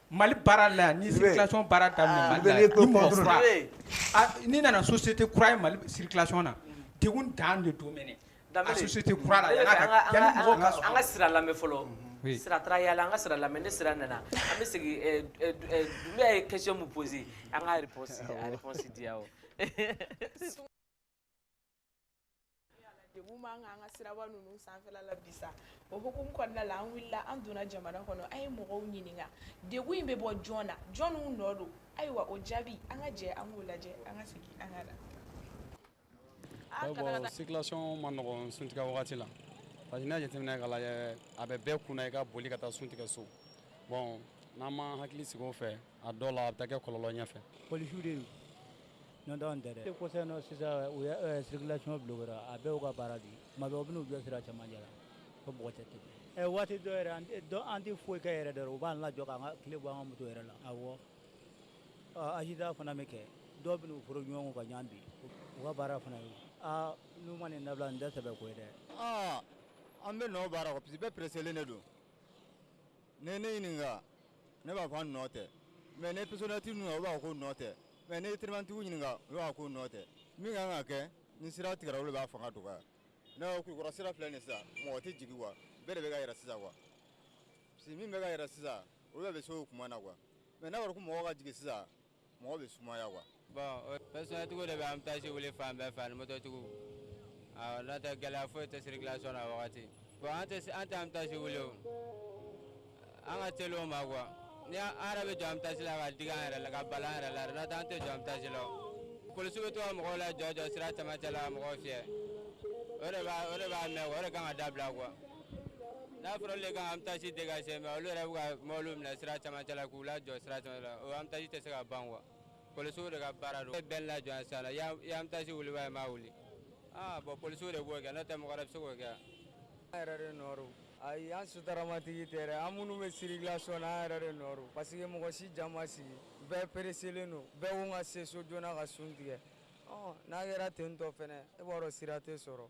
Mali baara la ni circulation baara da n'i nana société kura ye mali circulation na degun dan de don da kura an ka sira lamɛn fɔlɔ Sira taara yala an ka sira lamɛn ni Sira nana an bɛ segin Dunbiya ye question min pose an ka degun b'an kan an ka siraba ninnu sanfɛla la bi sa o hukumu kɔnɔna la an wulila an donna jamana kɔnɔ an ye mɔgɔw ɲininka degun in bɛ bɔ jɔn na jɔnw nɔ don ayiwa o jaabi an ka jɛ an k'o lajɛ an ka segin an ka na. bon circulation man nɔgɔn suntigɛ wagati la parce que n'i y'a jateminɛ k'a lajɛ a bɛ bɛɛ kunna i ka boli ka taa suntigɛ so bon n'an ma hakili sigi o fɛ a dɔw la a bɛ taa kɛ kɔlɔlɔ ɲɛfɛ polisiw de don n'o tɛ anw tɛ dɛ kɔsɛbɛ nɔ sisan u ye eh, circulation bloquera a bɛɛ y'u ka baara de ye tuma bɛɛ u bɛna u jɔ sira cɛmancɛ la ko mɔgɔ tɛ tɛmɛ eh, waati dɔ yɛrɛ an tɛ- dɔ- an tɛ foyi kɛ yɛrɛ dɔrɔn u b'an lajɔ k'an ka kile bɔ an ka moto yɛrɛ la awɔ Ah, accident fana bɛ kɛ dɔw bɛna u foro ɲɔgɔn kɔ ka ɲɔgɔn bin u ka baara fana ye aa n'u ma nin dabila nin tɛ sɛbɛ ko ye dɛ aa an bɛɛ nɔ b'a la quoi parce que bɛɛ pereselen de don n'i ne ɲininka ne b'a fɔ an nɔ tɛ mɛ n'i pɛrsonɛlitigi ninnu u b'a fɔ k'u nɔ tɛ mɛ n'i telimanitigiw ɲininka u b'a fɔ k'u nɔ tɛ min kan ka kɛ ni sira tigɛra olu b'a fanga dɔgɔya ne ko kulukɔrɔ sira filɛ nin sisan mɔgɔ tɛ jigin kuwa bɛɛ de bɛ ka yɛlɛn sisan kuwa parce que min bɛ ka yɛlɛn sisan olu bɛɛ bɛ se o kuma na kuwa mɛ n'a fɔra ko mɔgɔ ka jigin sisan mɔgɔ bɛ sumaya kuwa bɔn pɛrsonɛlitigiw de bɛ embouteillage wuli fan bɛɛ fɛ ani mototigiw n'o tɛ gɛlɛya foyi tɛ sirikilasɔn na wagati bɔn an tɛ an tɛ embouteillage wuli o an ka teli o ma kuwa ni an yɛrɛ bɛ jɔ embouteillage la ka digi an yɛrɛ la ka bala an yɛrɛ la n'o tɛ an tɛ jɔ embouteillage la polisiw bɛ to ka mɔgɔw lajɔ jɔ sira cɛmancɛ la ka mɔgɔw fiyɛ o de b'a o de b'a mɛn o de kan ka dabila kuwa n'a fɔra olu ka embouteillage dégager mais olu yɛrɛ bɛ ka mɔbiliw minɛ sira camancɛ la k'u lajɔ sira camancɛ la o embouteillage tɛ se ka ban quoi polisiw de ka baara don bɛɛ lajɔ yan sisan i ye embouteillage wuli wa i m'a wuli aa bon polisiw de b'o kɛ n'o tɛ mɔgɔ wɛrɛ bɛ se k'o kɛ an yɛrɛ de nɔ don ayi an sotramatigi tɛ dɛ an minnu bɛ circulation na an yɛrɛ de nɔ don parce que mɔgɔ si ja ma sigi bɛɛ pereselen don bɛɛ ko n ka se so joona ka sun tigɛ n'a kɛra ten tɔ fɛnɛ e b'a dɔn sira tɛ sɔrɔ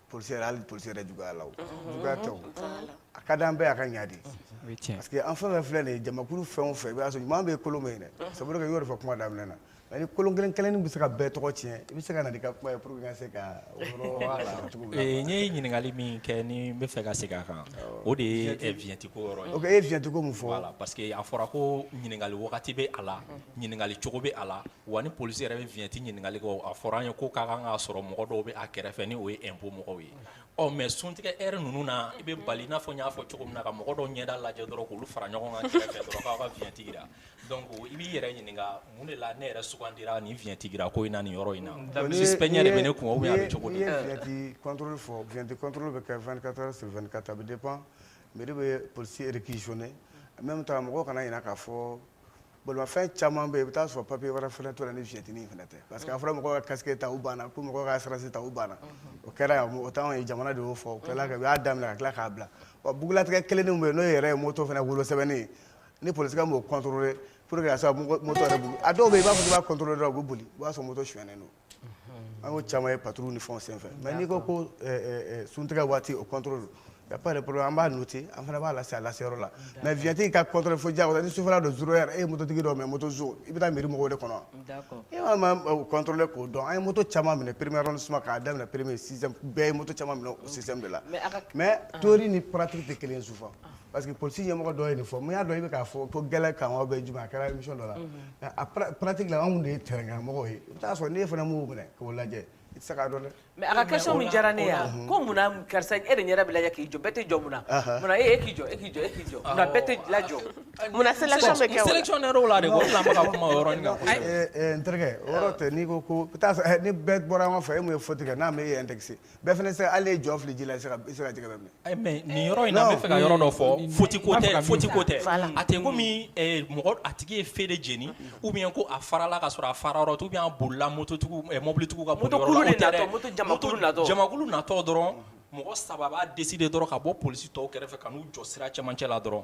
polisi yɛrɛ hali polisi yɛrɛ juguya la o juguya tɛ o a ka d'an bɛɛ a ka ɲa de parce que an fɛn fɛn filɛ nin ye jamakulu fɛn o fɛn i b'a sɔrɔ ɲuman bɛ kolon bɛ yen dɛ sabu kɛ i y'o de fɔ kuma daminɛ na mais ni kolon kelen kelennin bɛ se ka bɛɛ tɔgɔ tiɲɛ i bɛ se ka na n'i ka kuma ye pour que n ka se ka n ye ɲininkali min kɛ ni n bɛ fɛ ka segin a kan o de ye viɲɛti ko yɔrɔ ye ok e ye viɲɛti ko min fɔ parce que a fɔra ko ɲininkali wagati bɛ a la ɲininkali cogo bɛ a la wa ni polisi yɛrɛ bɛ vignette ɲininkali kɛ a fɔra an ye ko ka kan k'a sɔrɔ mɔgɔ dɔw bɛ a kɛrɛfɛ ni o ye impôt mɔgɔw ye ɔ mais suntigɛ heure ninnu na i bɛ bali i n'a fɔ n y'a fɔ cogo min na ka mɔgɔ dɔw ɲɛda lajɛ dɔrɔn k'olu fara ɲɔgɔn kan kɛrɛfɛ dɔrɔn k'aw ka vignette jira donc i b'i yɛrɛ ɲininka mun de la ne yɛrɛ sugandira nin vignette jira ko in na nin yɔrɔ in na suspect ɲɛ de bɛ ne kun ou bien a bɛ cogo di n'i ye vignette contrôle fɔ vignette contrôle bɛ kɛ 24 heures sur 24 a bɛ dépend mairie bɛ polisi réquisitionner en même temps mɔgɔw kana ɲinɛ k'a fɔ bolimafɛn caman bɛ yen i bɛ taa sɔrɔ papiye wɛrɛ fana t'o la ni vignette in fana tɛ parce que a fɔra mɔgɔw ka casque ta u banna ko mɔgɔw ka assurance ta u banna o kɛra yan o t'anw ye jamana de y'o fɔ o tilala ka u y'a daminɛ ka tila k'a bila wa bugunnatigɛ kelennin bɛ yen n'o yɛrɛ ye moto fana wolosɛbɛnni ye ni polisikɛ m'o contrôler pour que a se ka moto yɛrɛ boli a dɔw bɛ yen i b'a fɔ k'i b'a contrôler dɔrɔn u bɛ boli i b'a sɔrɔ moto sonyɛnen don an caman ye paturu ni fɛn senfɛ mɛ n'i ko ko suntigɛ waati o kɔntoro don ya de bolo an b'a nɔti an fana b'a lase a lase yɔrɔ la mɛ vyati ka kɔntoro fo ja ni sufɛ don s yɛrɛ e mototigi dɔ mɛ moto so i bɛ taa miiri mɔgɔw de kɔnɔ e kɔntɔnlen k'o dɔn an ye moto caman minɛ pereme yɔrɔ suma k'a daminɛ pereme bɛɛ ye moto caman minɛ o si de la mɛ to ni patigi tɛ kelen sufa parce que polisi ɲɛmɔgɔ dɔ ye nin fɔ mun y'a dɔn i bɛ k'a fɔ ko gɛlɛkan ou bien jumɛn a kɛra émission dɔ la nka a pratique la anw de ye terrain kan mɔgɔw ye i bɛ taa sɔrɔ n'e fana m'o minɛ k'o lajɛ i tɛ se k'a dɔn dɛ. mais a ka question min diyara ne ye yan ko mun na karisa e de ɲɛda bɛ lajɛ k'i jɔ bɛɛ tɛ jɔ mun na mun na e e k'i jɔ e k'i jɔ e k'i jɔ mun na bɛɛ tɛ lajɔ mun na sélection bɛ kɛ o la sélection yɛrɛ o la de ko fila ma ka kuma o yɔrɔnin kan kosɛbɛ. n terikɛ o yɔrɔ tɛ n'i ko ko i bɛ taa sɔrɔ ni bɛɛ bɔra ɲɔgɔn fɛ e min ye faute kɛ n'a m'e indexer bɛɛ fana se hali jɔ fili ji la i tɛ se ka jɛgɛ bɛɛ minɛ mais nin yɔrɔ in na n bɛ fɛ ka yɔrɔ dɔ fɔ faute ko tɛ faute ko tɛ a tɛ komi eh, mɔgɔ a tigi ye feu de jeni ou bien ko a farala ka sɔrɔ a fara yɔrɔ tɛ ou bien a bolila moto eh, mɔbilitigiw ka jamakulu natɔ dɔrɔn mɔgɔ saba b'a décider dɔrɔn ka bɔ polisi tɔw kɛrɛfɛ ka n'u jɔ sira cɛmancɛ la dɔrɔn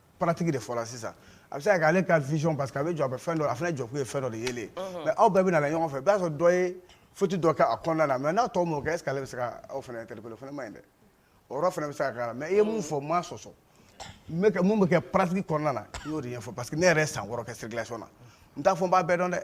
pratique de fɔ la sisan a bɛ se ka kɛ ale ka vision parce que a bɛ jɔ a bɛ fɛn dɔ a fana jɔkun ye fɛn dɔ de yelen mais aw bɛɛ bɛ na ɲɔgɔn fɛ i b'a sɔrɔ dɔ ye faute dɔ kɛ a kɔnɔna na mais n'a tɔ m'o kɛ est ce que ale bɛ se ka aw fana interpeller o fana man ɲi dɛ o yɔrɔ fana bɛ se ka k'a la mais i ye mun fɔ n m'a sɔsɔ mun bɛ kɛ pratique kɔnɔna na i y'o de ɲɛfɔ parce que ne yɛrɛ ye san wɔɔrɔ kɛ circulation na n t'a fɔ n b'a bɛɛ dɔn dɛ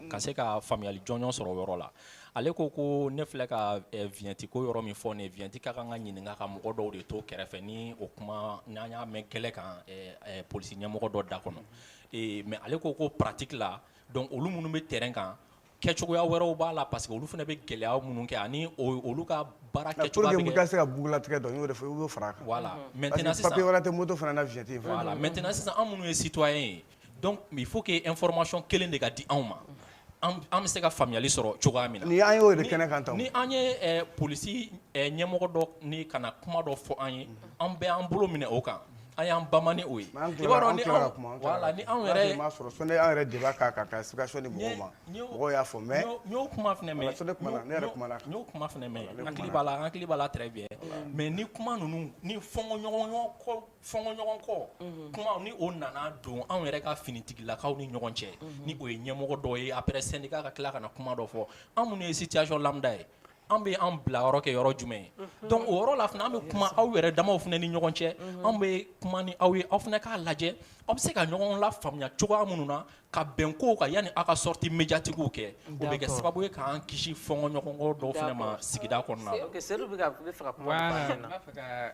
ka se ka faamuyali jɔnjɔn sɔrɔ o yɔrɔ la ale ko ko ne filɛ ka vignette ko yɔrɔ min fɔ ne vignette ka kan ka ɲininka ka mɔgɔ dɔw de to kɛrɛfɛ ni o kuma n'an y'a mɛn gɛlɛ kan polisi ɲɛmɔgɔ dɔ da kɔnɔ mais ale ko ko pratique la donc olu minnu bɛ terrain kan kɛcogoya wɛrɛw b'a la parce que olu fana bɛ gɛlɛya minnu kɛ ani olu ka baara kɛcogo se ka bugulatigɛ dɔn n y'o fɔ i b'o fara a kan voilà maintenant papier wɛrɛ tɛ moto fana na vignette voilà maintenant sisan anw minnu ye citoyen ye donc il faut que information kelen de ka di anw ma an bɛ se ka faamuyali sɔrɔ cogoya min na ni an y'o de kɛnɛ kan tan ni an ye eh, polisi eh, ɲɛmɔgɔ dɔ ni ka na kuma dɔ fɔ an ye an bɛ an bolo minɛ o kan an y'an bama ni o ye i b'a dɔn ni anw voilà ni anw yɛrɛ m'a sɔrɔ sɔnni an yɛrɛ débat k'a kan ka explication di mɔgɔw ma mɔgɔw y'a fɔ mais n y'o kuma fana mɛn sɔnni kuma na ne yɛrɛ kuma na n y'o kuma fana mɛn n hakili b'a la n hakili b'a la très bien mais ni kuma ninnu ni fɔnkɔɲɔgɔnkɔ fɔnkɔɲɔgɔnkɔ mhm. kuma ni o nana don anw yɛrɛ ka finitigilakaw ni ɲɔgɔn cɛ mhm. ni o ye ɲɛmɔgɔ dɔ ye après syndicat ka tila ka na kuma dɔ fɔ an minnu ye situation lambda ye an bɛ an bila yɔrɔ kɛ yɔrɔ jumɛn ye mhm. donc o yɔrɔ la fana an bɛ kuma aw yɛrɛ damaw fana ni ɲɔgɔn cɛ an bɛ kuma ni aw ye aw fana k'a lajɛ aw bɛ se ka ɲɔgɔn lafaamuya cogoya minnu na ka bɛn kow kan yanni aw ka sortie médiatiquew kɛ o bɛ kɛ sababu ye k'an kisi fɔnkɔɲɔgɔnkɔ dɔw fana ma sigida kɔnɔna na.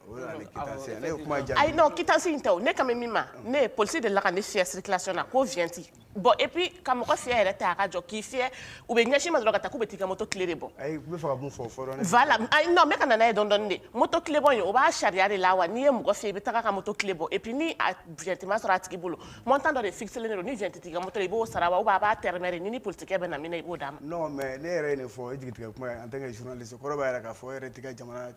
ayi non quittance in tɛ o ne kan bɛ min ma ne ye polisi de la ka ne fiyɛ circulation na ko vignette bon et puis ka mɔgɔ fiyɛ yɛrɛ tɛ a ka jɔ k'i fiyɛ u bɛ ɲɛsin i ma dɔrɔn ka taa k'u bɛ t'i ka moto clé de bɔ voilà ayi non n bɛ ka na n'a ye dɔɔni dɔɔni dɛ moto clé bɔ in o b'a sariya de la wa n'i ye mɔgɔ fiyɛ i bɛ taga ka moto clé bɔ et puis ni a vignette ma sɔrɔ a tigi bolo montant dɔ de fixelen de don ni vignette t'i ka moto la i b'o sara wa ou bien a b'a tɛrɛmɛ de ni i ni polisikɛ bɛnna min na i b'o d'a ma non mais ne yɛrɛ ye nin fɔ i jigitigɛ kuma ye en tant que journaliste o kɔrɔ b'a jira k'a fɔ e yɛrɛ t'i ka jamana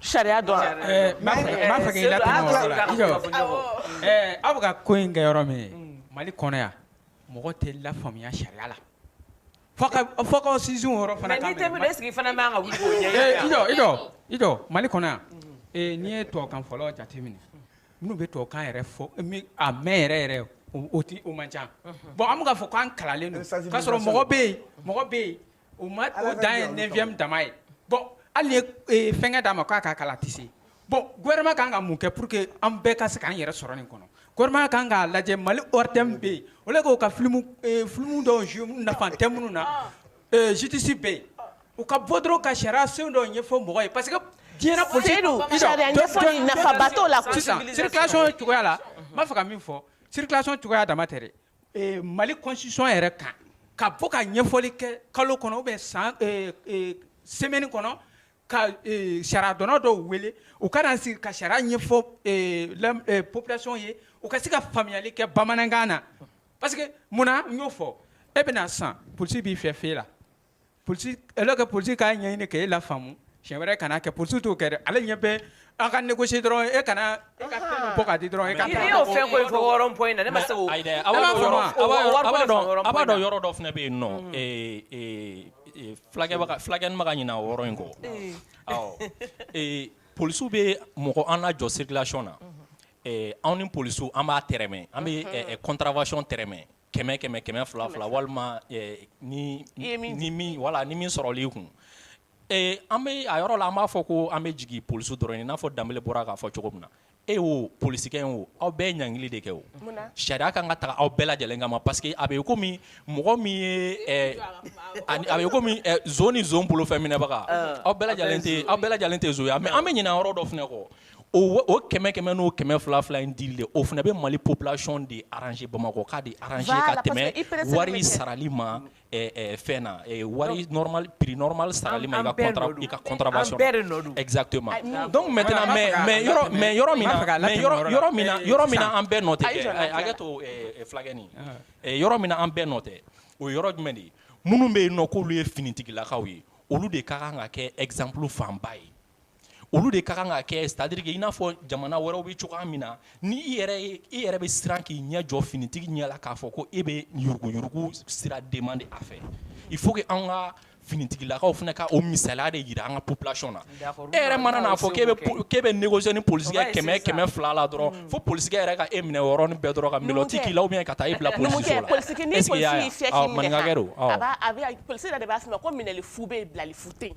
Sariya aw bɛ ka ko in kɛ yɔrɔ min mali kɔnɔ yan mɔgɔ tɛ lafaamuya sariya la sin mali kɔnɔ yan n'i ye tubabukan fɔlɔ jateminɛ minnu bɛ tubabukan yɛrɛ fɔ a mɛn yɛrɛ yɛrɛ o tɛ o man ca bon an bɛ ka fɔ k'an kalanlen don k'a sɔrɔ mɔgɔ bɛ yen mɔgɔ bɛ yen O ma o dan ye neuvième dama ye bon hali n'i ye fɛnkɛ d'a ma k'a ka kalan tɛ se bon gouvernement kan ka mun kɛ pour que an bɛɛ ka se k'an yɛrɛ sɔrɔ nin kɔnɔ gouvernement kan k'a lajɛ mali ORTM bɛ yen au lieu k'o ka filimu dɔw jouer nafa tɛ minnu na justice bɛ yen u ka bɔ dɔrɔn ka sariya sen dɔw ɲɛfɔ mɔgɔ ye parce que diɲɛ la circulation cogoya la n b'a fɛ ka min fɔ circulation cogoya dama tɛ Mali constitution yɛrɛ kan ka bɔ ka ɲɛfɔli kɛ kalo kɔnɔ ou bien san semaine kɔnɔ ka sariya dɔnna dɔw wele u ka na sigi ka sariya ɲɛfɔ population ye u ka se ka faamuyali kɛ bamanankan na parce que munna n y'o fɔ e bɛna san polisikɛ b'i fɛ feu la que polisikɛ k'a ɲɛɲini k'e lafaamu siɲɛ wɛrɛ kana kɛ polisi t'o kɛ dɛ ale ɲɛ bɛ an ka négocier dɔrɔn e ka na e ka dɔ bɔ k'a di dɔrɔn e ka fɛn in na ne ma se aw b'a dɔn yɔrɔ dɔ fana bɛ yen nɔ fulakɛnin ma ka ɲinɛ o yɔrɔ in kɔ polisiw bɛ mɔgɔ an lajɔ circulation na anw ni polisiw an b'a tɛrɛmɛ an bɛ contravention tɛrɛmɛ kɛmɛ kɛmɛ kɛmɛ fila fila walima eh, ni ni min wala ni min sɔrɔli kun eh, an bɛ a yɔrɔ la an b'a fɔ ko an bɛ jigin polisiw dɔrɔn i n'a fɔ danbele bɔra k'a fɔ cogo min na e o polisikɛ in o aw bɛɛ ye ɲangili de kɛ o sariya kan ka taga aw bɛɛ lajɛlen kama parce que a bɛ komi mɔgɔ min ye eh, a bɛ komi zon ni zon bolofɛn minɛbaga aw bɛɛ lajɛlen tɛ aw bɛɛ lajɛlen tɛ zon ye mais an bɛ ɲinɛ yɔrɔ dɔ fana kɔ o kɛmɛ kɛmɛ n'o kɛmɛ fila fila in dili de o fana bɛ mali population de arranger bamakɔkaw de arranger ka tɛmɛ wari sarali ma fɛn na wari normal prix normal sarali ma i ka contravention exactement donc maintenant mais yɔrɔ min yɔrɔ min na an bɛɛ nɔ tɛ hakɛ to fulakɛnin yɔrɔ min na an bɛɛ nɔ tɛ o yɔrɔ jumɛn de ye minnu bɛ yen nɔ k'olu ye finitigilakaw ye olu de ka kan ka kɛ exemple fanba ye olu de ka kan ka kɛ c'est à dire que i n'a fɔ jamana wɛrɛw bɛ cogoya min na ni i yɛrɛ ye i yɛrɛ bɛ siran k'i ɲɛ jɔ finitigi ɲɛ la k'a fɔ ko e bɛ yuruguyurugu sira demande a fɛ il faut que an ka finitigilakaw fana ka o misaliya de jira an ka population na e yɛrɛ mana n'a fɔ k'e bɛ k'e bɛ négocier ni polisikɛ kɛmɛ kɛmɛ fila la dɔrɔn mm. fo polisikɛ yɛrɛ ka e minɛ o yɔrɔnin bɛɛ dɔrɔn ka melɔti k'i la ou bien ka taa e bila polisiso la est-ce que i y'a ye a maninkakɛ don awɔ a b'a a bɛ polisi yɛrɛ de b'a f'i ma ko minɛli fu bɛ yen bilali fu tɛ yen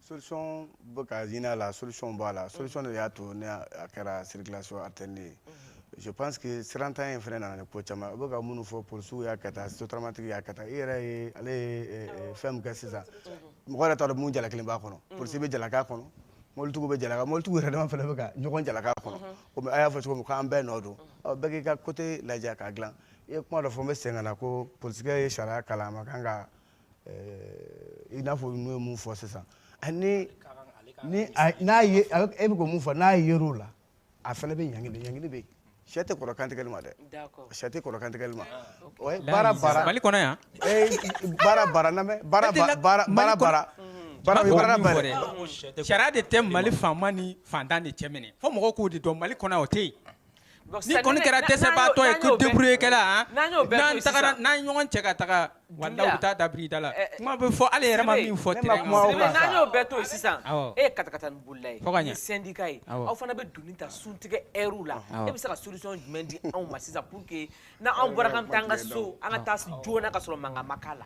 solution bɛ ka ɲini a la solution b'a la solution de y'a to ne a kɛra circulation alternée ye je pense que sirantanya in fana nana ni ko caman u bɛ ka minnu fɔ polisiw y'a kɛ tan sotaramantigi y'a kɛ tan i yɛrɛ ye ale ye fɛn min kɛ sisan mɔgɔ yɛrɛ t'a dɔn mun jalakilen b'a kɔnɔ polisi bɛ jalaki a kɔnɔ mɔbilitigiw bɛ jalaki mɔbilitigiw yɛrɛ dama fana bɛ ka ɲɔgɔn jalaki a kɔnɔ komi a y'a fɔ cogo min k'an bɛɛ nɔ don bɛɛ k'i ka côté lajɛ k'a dilan i ye kuma dɔ fɔ n bɛ segin ka na ko polisikɛ ye sariya kalan a ma kan ka eh, i n'a fɔ n'o ye mun fɔ sisan ani ni n'a ye e bɛ ko mun fɔ n'a yer'o la a fana bɛ ɲangili ɲangili bɛ yen sɛ tɛ kɔrɔ kantigɛli ma dɛ sɛ tɛ kɔrɔ kantigɛli ma ah, baara baara mali kɔnɔ yan eh, baara baara la mais baara baara baara baara baara sariya de tɛ mali faama ni fantan de cɛ minɛ fo mɔgɔw k'o de dɔn mali kɔnɔ o tɛ yen Ni kɔni kɛra dɛsɛbaatɔ ye ko débrouiller kɛla, n'an taara n'an ɲɔgɔn cɛ ka taga walahi u bɛ taa da birida la, kuma bɛ fɔ Ala yɛrɛ ma min fɔ terrain kan, Sidibe n'an y'o bɛɛ to yen sisan, awɔ, e ye katakatanin bolila ye, fo ka ɲɛ, ni syndicat ye, awɔ, aw fana bɛ donni ta suntigɛ heure la, awɔ, e bɛ se ka solution jumɛn di anw ma sisan pour que n'anw bɔra k'an bɛ taa an ka so an ka taa joona ka sɔrɔ mankan ma k'a la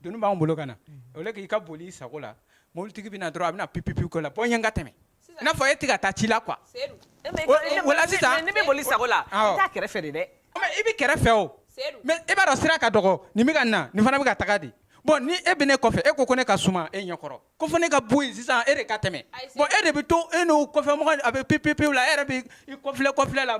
Donni b'an bolo ka na au lieu k'i ka boli i sago la mobilitigi bɛna na dɔrɔn a bɛna pipipi ko la bɔ n ɲɛ n ka tɛmɛ i n'a fɔ e tɛ ka taa ci la quoi sisan ne bɛ boli sago la kɛrɛfɛ de dɛ i bɛ kɛrɛfɛ o mais e b'a dɔn sira ka dɔgɔ nin bɛ ka na nin fana bɛ ka taga de bon ni e bɛ ne kɔfɛ e ko ne ka suma e ɲɛkɔrɔ ko fo ne ka bɔ yen sisan e de ka tɛmɛ bon e de bɛ to e n'o kɔfɛmɔgɔ a bɛ pipipi la e yɛrɛ bɛ i kɔfilɛ kɔfilɛ la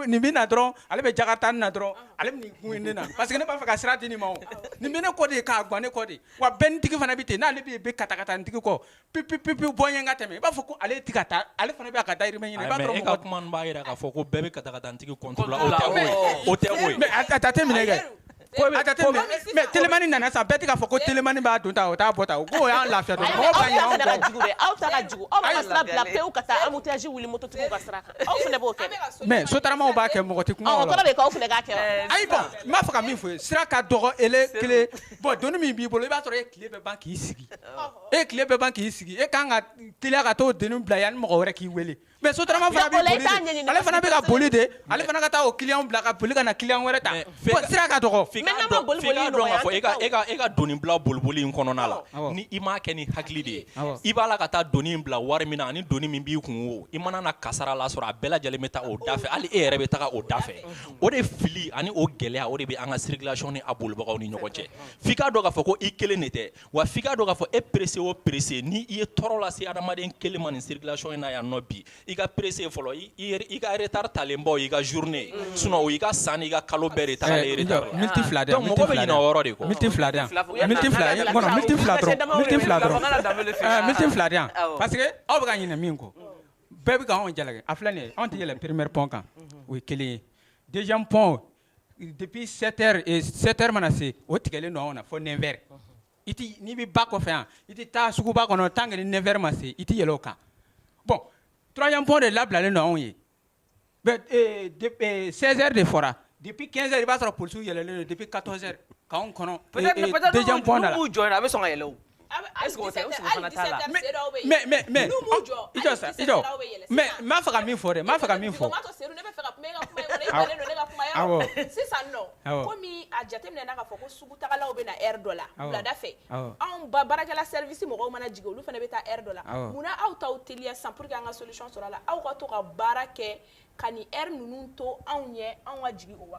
nin bɛ na dɔrɔn ale bɛ jakarita nin na dɔrɔn ale bɛ nin kun ne na parce que ne b'a fɛ ka sira di nin ma o nin bɛ ne kɔ de k'a gan ne kɔ de wa bɛnitigi fana bɛ ten n'ale bɛ katakatanintigi kɔ pipipi bɔ n ɲɛ n ka tɛmɛ i b'a fɔ ko ale tɛ ka taa ale fana bɛ ka dayirimɛ ɲini i b'a sɔrɔ mɔgɔ caman b'a jira k'a fɔ ko bɛɛ bɛ katakatanintigi contrôler la o tɛ o ye o tɛ o ye mais a jateminɛ kɛ telimani nana sa bɛɛ tɛ k'a fɔ ko telimani b'a don ta o t'a bɔ ta o ko y'an lafiya dɔrɔn mɔgɔw ka ɲinɛ anw kɔ aw ta ka jugu aw bɛ sira bila pewu ka taa embouteillage wuli mototigiw ka sira kan aw fana b'o kɛ dɛ mais sotaramaw b'a kɛ mɔgɔ tɛ kuma o la o kɔrɔ de ye k'aw fana k'a kɛ wa ayi bon n b'a fɛ ka min fɔ ye sira ka dɔgɔ ele kelen bon donni min b'i bolo i b'a sɔrɔ e tile bɛɛ ban k'i sigi e tile bɛɛ ban k'i sigi e ka kan ka teliya ka t'o donni bila yanni mɔgɔ wɛrɛ k'i wele Mais sotarama fana bɛ ka boli de ale fana ka taa o client bila ka boli ka na client wɛrɛ ta bon sira ka dɔgɔ f'i k'a dɔn k'a fɔ e ka donni bila boliboli in kɔnɔna la ni i m'a kɛ ni hakili de ye i b'a la ka taa donni in bila wari min na ani donni min b'i kun o i mana na kasara la sɔrɔ a bɛɛ lajɛlen bɛ taa o da fɛ hali e yɛrɛ bɛ taa o da fɛ o de fili ani o gɛlɛya o de bɛ an ka circulation ni a bolibagaw ni ɲɔgɔn cɛ f'i k'a dɔn k'a fɔ ko i kelen de tɛ wa f'i k'a dɔn k'a fɔ e pressé o pressé ni i ye tɔɔrɔ lase adamaden kelen ma nin circulation in na yan nɔ bi i ka pressé fɔlɔ i ka retard taalenba o y'i ka journée mm. sinon o y'i ka san n'i ka kalo bɛɛ de tagalen eh, retard la minute fila donc mɔgɔ bɛ ɲinɛ o yɔrɔ de kɔ minute fila de yan minute fila kɔnɔ minute fila dɔrɔn minute fila dɔrɔn minute fila de yan parce que aw bɛ ka ɲinɛ min kɔ bɛɛ bɛ ka anw jalaki a filɛ nin ye anw tɛ yɛlɛn premier pont kan mm-hmm. o ye kelen ye deuxième pont Depi sɛri mana se o tigɛlen don na fɔ nɛrɛ n'i bɛ ba kɔfɛ yan i tɛ taa suguba kɔnɔ tan kelen ni nɛ ma se i tɛ yɛlɛ o kan bɔn turabilenbɔ de labilalen nɔn anw ye sɛri de fɔra depi kɛsɛri i b'a sɔrɔ p yɛlɛ depi ka kɔnɔ jɔ a bɛ sɔn ka yɛlɛ Mɛ'a faga min fɔ dɛ'a faga min fɔ lada fɛ anw ba baarakɛlasisi mɔgɔw mana jigin olu fana bɛ taa dɔ la munna aw ta teliya san pur que an ka so sɔrɔ la aw ka to ka baara kɛ ka ninnu to anw ye anw ka jigin o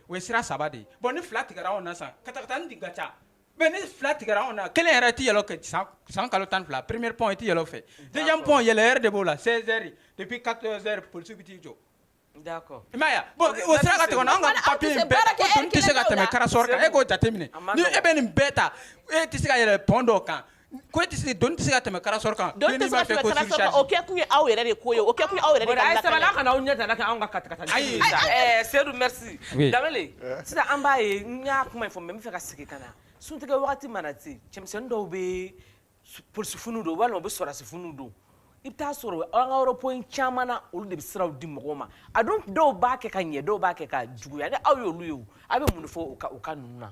o ye sira saba de ye bon ni fila tigɛra anw na sisan katakatanin de ka ca mais ni fila tigɛra anw na kelen yɛrɛ tɛ yɛlɛ kɛ san kalo tan ni fila premier pont i tɛ yɛlɛ o fɛ deuxième pont yɛlɛ heure de b'o la 16 heures depuis 14 heures polisiw bɛ t'i jɔ. D'accord i m'a ye wa bon Ok, o sira ka tigɛ o la anw ka papier in bɛɛ ko doni tɛ se ka tɛmɛ karasɔrɔ kan e k'o jateminɛ ni e bɛ nin bɛɛ ta e tɛ se ka yɛlɛ pont dɔw kan Ko e tɛ se doni tɛ se ka tɛmɛ karasɔrɔ kan, doni tɛ se ka tɛmɛ karasɔrɔ kan, o kɛ kun ye aw yɛrɛ de ko ye, o kɛ kun ye aw yɛrɛ de ka lakana ye, bon a ye sabali aw kana aw ɲɛ tana kɛ anw ka katakatanin ye, ayi, ɛɛ Seyidu merci, oui, Danbɛlɛ, sisan an b'a ye n y'a kuma in fɔ mais n b'a fɛ ka segin ka na suntigɛ wagati mana se cɛmisɛnnin dɔw bɛ polisifiniw don walima u bɛ sɔrɔdasifiniw don i bɛ taa sɔrɔ an ka rond point caman na olu de bɛ siraw di mɔgɔw ma a dun dɔw b'a kɛ ka ɲɛ dɔw b'a kɛ ka juguya ni aw y'olu ye o aw bɛ mun de fɔ u ka u ka ninnu na.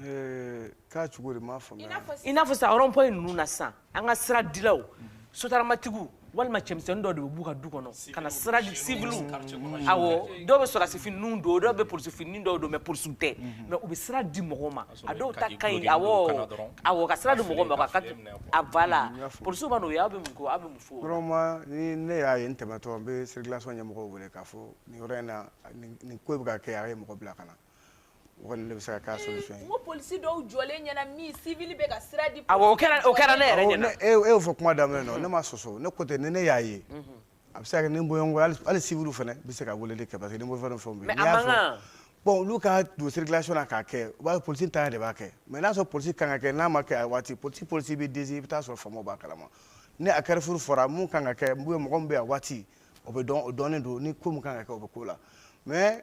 Eh, k'a cogo di n m'a faamuya. i n'a fɔ sisan rond point ninnu na sisan an ka sira dilaw sotaramatigiw walima cɛmisɛnnin dɔ de bɛ b'u ka du kɔnɔ ka na sira di siviliw awɔ dɔw bɛ sɔrɔdasifiniw don dɔw bɛ polisifini dɔw don mais polisiw tɛ mais u bɛ sira di mɔgɔw ma A dɔw ta ka ɲi awɔ awɔ ka sira di mɔgɔw ma ka a voilà polisiw b'a dɔn n'o ye aw bɛ mun kɛ aw bɛ mun fɔ vraiment ni ne y'a ye n tɛmɛtɔ n bɛ circulation ɲɛmɔgɔw wele k'a fɔ nin yɔrɔ in na nin ko bɛ ka kɛ a ye mɔgɔ bila ka na o kɔni de bɛ se ka k'a solution ye n ko polisi dɔw jɔlen ɲɛna min civil bɛ ka sira di awɔ o kɛra ne yɛrɛ ɲɛna e y'o fɔ kuma daminɛ na ne m'a sɔsɔ ne ko ten ni ne y'a ye a bɛ se ka kɛ ni n bɔɲɔgɔnko hali hali siviliw fana bɛ se ka weleli kɛ parce que ni bɔfɛn dɔ fɛnw bɛ yen. n'i y'a fɔ bon olu ka don circulation na k'a kɛ u b'a ye polisi ntanya de b'a kɛ mais n'a sɔrɔ polisi kan ka kɛ n'a ma kɛ a waati polisi polisi bɛ desi i bɛ taa sɔrɔ faamaw b'a kalama ni a carrefour fɔra mun kan ka kɛ mɔgɔ min bɛ a waati o bɛ dɔn o dɔnnen don ni ko min kan ka kɛ o bɛ k'o la mais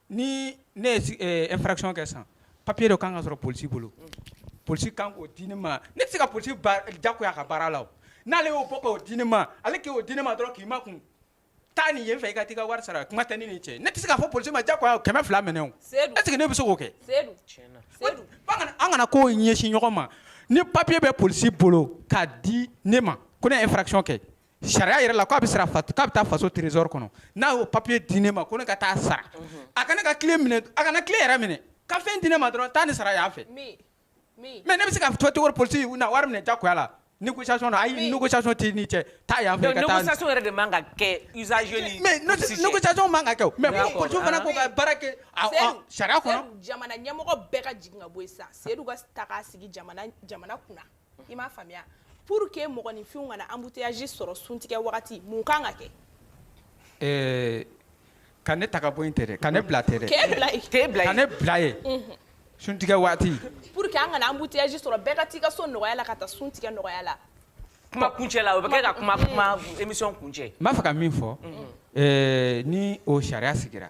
Ni ne ye infraction kɛ sisan papier dɔ ka kan ka sɔrɔ polisi bolo polisi ka kan k'o di ne ma ne tɛ se ka polisi jagoya a ka baara la n'ale y'o bɔ k'o di ne ma ale k'o di ne ma dɔrɔn k'i makun taa nin yen fɛ i ka taa i ka wari sara kuma tɛ ne n'i cɛ ne tɛ se k'a fɔ polisi ma jagoya 200 minɛ o est ce que ne bɛ se k'o kɛ an kana kow ɲɛsin ɲɔgɔn ma ni papier bɛ polisi bolo k'a di ne ma ko ne ye infraction kɛ sariya yɛrɛ la k'a bɛ sara fat- k'a bɛ taa faso trésor kɔnɔ n'a y'o papier di ne ma ko ne ka taa sara a ka ne ka clé minɛ a kana clé yɛrɛ minɛ ka fɛn di ne ma dɔrɔn taa ni sara yan fɛ mais ne bɛ se ka to cogo di polisi na wari minɛ jagoya la négociation na ayi négociation t'i ni cɛ taa yan fɛ Donc, ka taa négociation yɛrɛ de man ka kɛ usager ni mais no- police cɛ. négociation man ka kɛ o mais D'accord. ko polisiw fana k'u ka baara kɛ a- a- Seydou, sariya kɔnɔ Seydou, jamana ɲɛmɔgɔ bɛɛ ka jigin ka bɔ yen sisan seyidu ka ta k'a sigi jamana jamana kunna i m'a faamuya pour que mɔgɔninfinw kana embouteillage sɔrɔ suntigɛ wagati mun kan ka kɛ eh, ka ne ta ka bɔ yen tɛ dɛ ka ne bila tɛ dɛ k'e bila k'e bila ka ne bila ye mhm. suntigɛ waati pour que an kana embouteillage sɔrɔ bɛɛ ka t'i ka so nɔgɔya la ka taa suntigɛ nɔgɔya la kuma kuncɛ la o bɛ kɛ ka kuma kuma émission kuncɛ n b'a fɛ ka min fɔ mhm. eh, ni o sariya sigira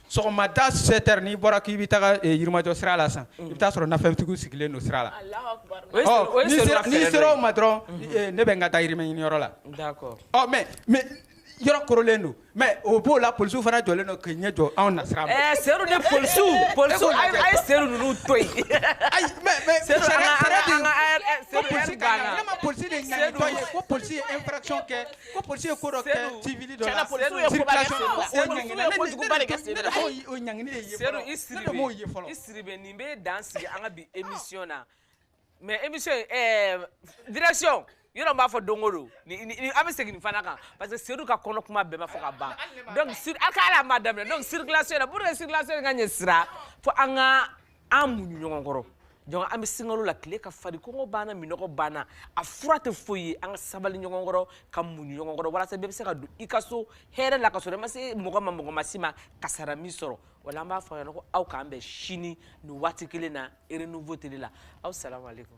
sɔgɔmada 7 heures n'i bɔra k'i bɛ taga yirimajɔ sira la sisan i bɛ t'a sɔrɔ nafɛntigiw sigilen don sira la n'i sera o ma dɔrɔn ne bɛ n ka dayirimɛ ɲini yɔrɔ la ɔ mais mais yɔrɔ korolen don mais o b'o la polisiw fana jɔlen don k'i ɲɛ jɔ anw na sira ma ɛɛ Seyidu ni polisiw polisiw a ye Seyidu ninnu to yen ayi mais mais Seyidu an ka an ka an ka Seyidu polisi de ɲanitɔ ye ko polisi ye infraction kɛ Ko polisi ye ko dɔ kɛ Sedu, civil dɔ la, tiɲɛ na polisiw ye koba kɛ circulation Sedu la, la, Sedu, o ɲangili, polisiw ye kojuguba de kɛ Sedu la. ne de b'o- o ɲangili de ye Sedu fɔlɔ. i Ne de Sidibe, b'o ye fɔlɔ. i Sidibe nin bɛ dan sigi an ka bi émission na mais émission in, ɛɛ, direction yɔrɔ n b'a fɔ don o don ni- ni- ni- an bɛ segin nin fana kan parce que Sedu ka kɔnɔ kuma bɛɛ ma fɔ ka ban donc sur- a ka hali a ma daminɛ donc circulation na pour que circulation in ka ɲɛ sira fo an ka an muɲu ɲɔgɔn kɔrɔ donc an bɛ sunkalo la tile ka farin kɔngɔ b'an na minnɔgɔ b'an na a fura tɛ foyi ye an ka sabali ɲɔgɔn kɔrɔ ka muɲu ɲɔgɔn kɔrɔ walasa bɛɛ bɛ se ka don i ka so hɛrɛ la ka sɔrɔ i ma se mɔgɔ ma mɔgɔ ma s'i ma kasara m'i sɔrɔ voilà an b'a fɔ a ɲɛna ko aw k'an bɛn sini nin waati kelen na renouveau tele la aw salamu aleykum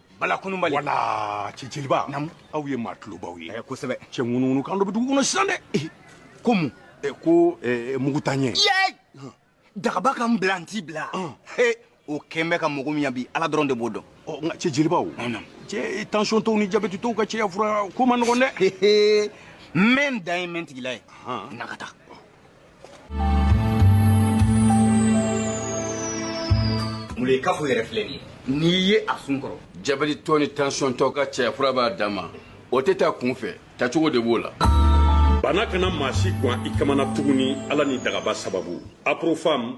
bala kununbali wala cɛ jeliba aw ye maa tulobaw ye eh, kosɛbɛ cɛ ŋunuŋunu kan dɔ bɛ dugu kɔnɔ sisan dɛ eh, ko mun eh, ko mugutaɲɛ dagaba ka n bila n t'i bila o kɛn bɛ ka mɔgɔ min yan bi ala dɔrɔn de b'o dɔn oh, nka cɛ jeliba o cɛ tansiyɔntɔw ni jabɛtitɔw ka cɛya fura ko ma nɔgɔn dɛ n bɛ n dan ye n bɛ n tigila ye na ka taa mun ye kafo yɛrɛ filɛ nin ye n'i ye a sun kɔrɔ jabɛtitɔ ni tansiyɔntɔ ka cɛya fura b'a dan ma o tɛ ta kunfɛ tacogo de b'o la bana kana maa si gwan i kamana tuguni ala ni dagaba sababu aprofam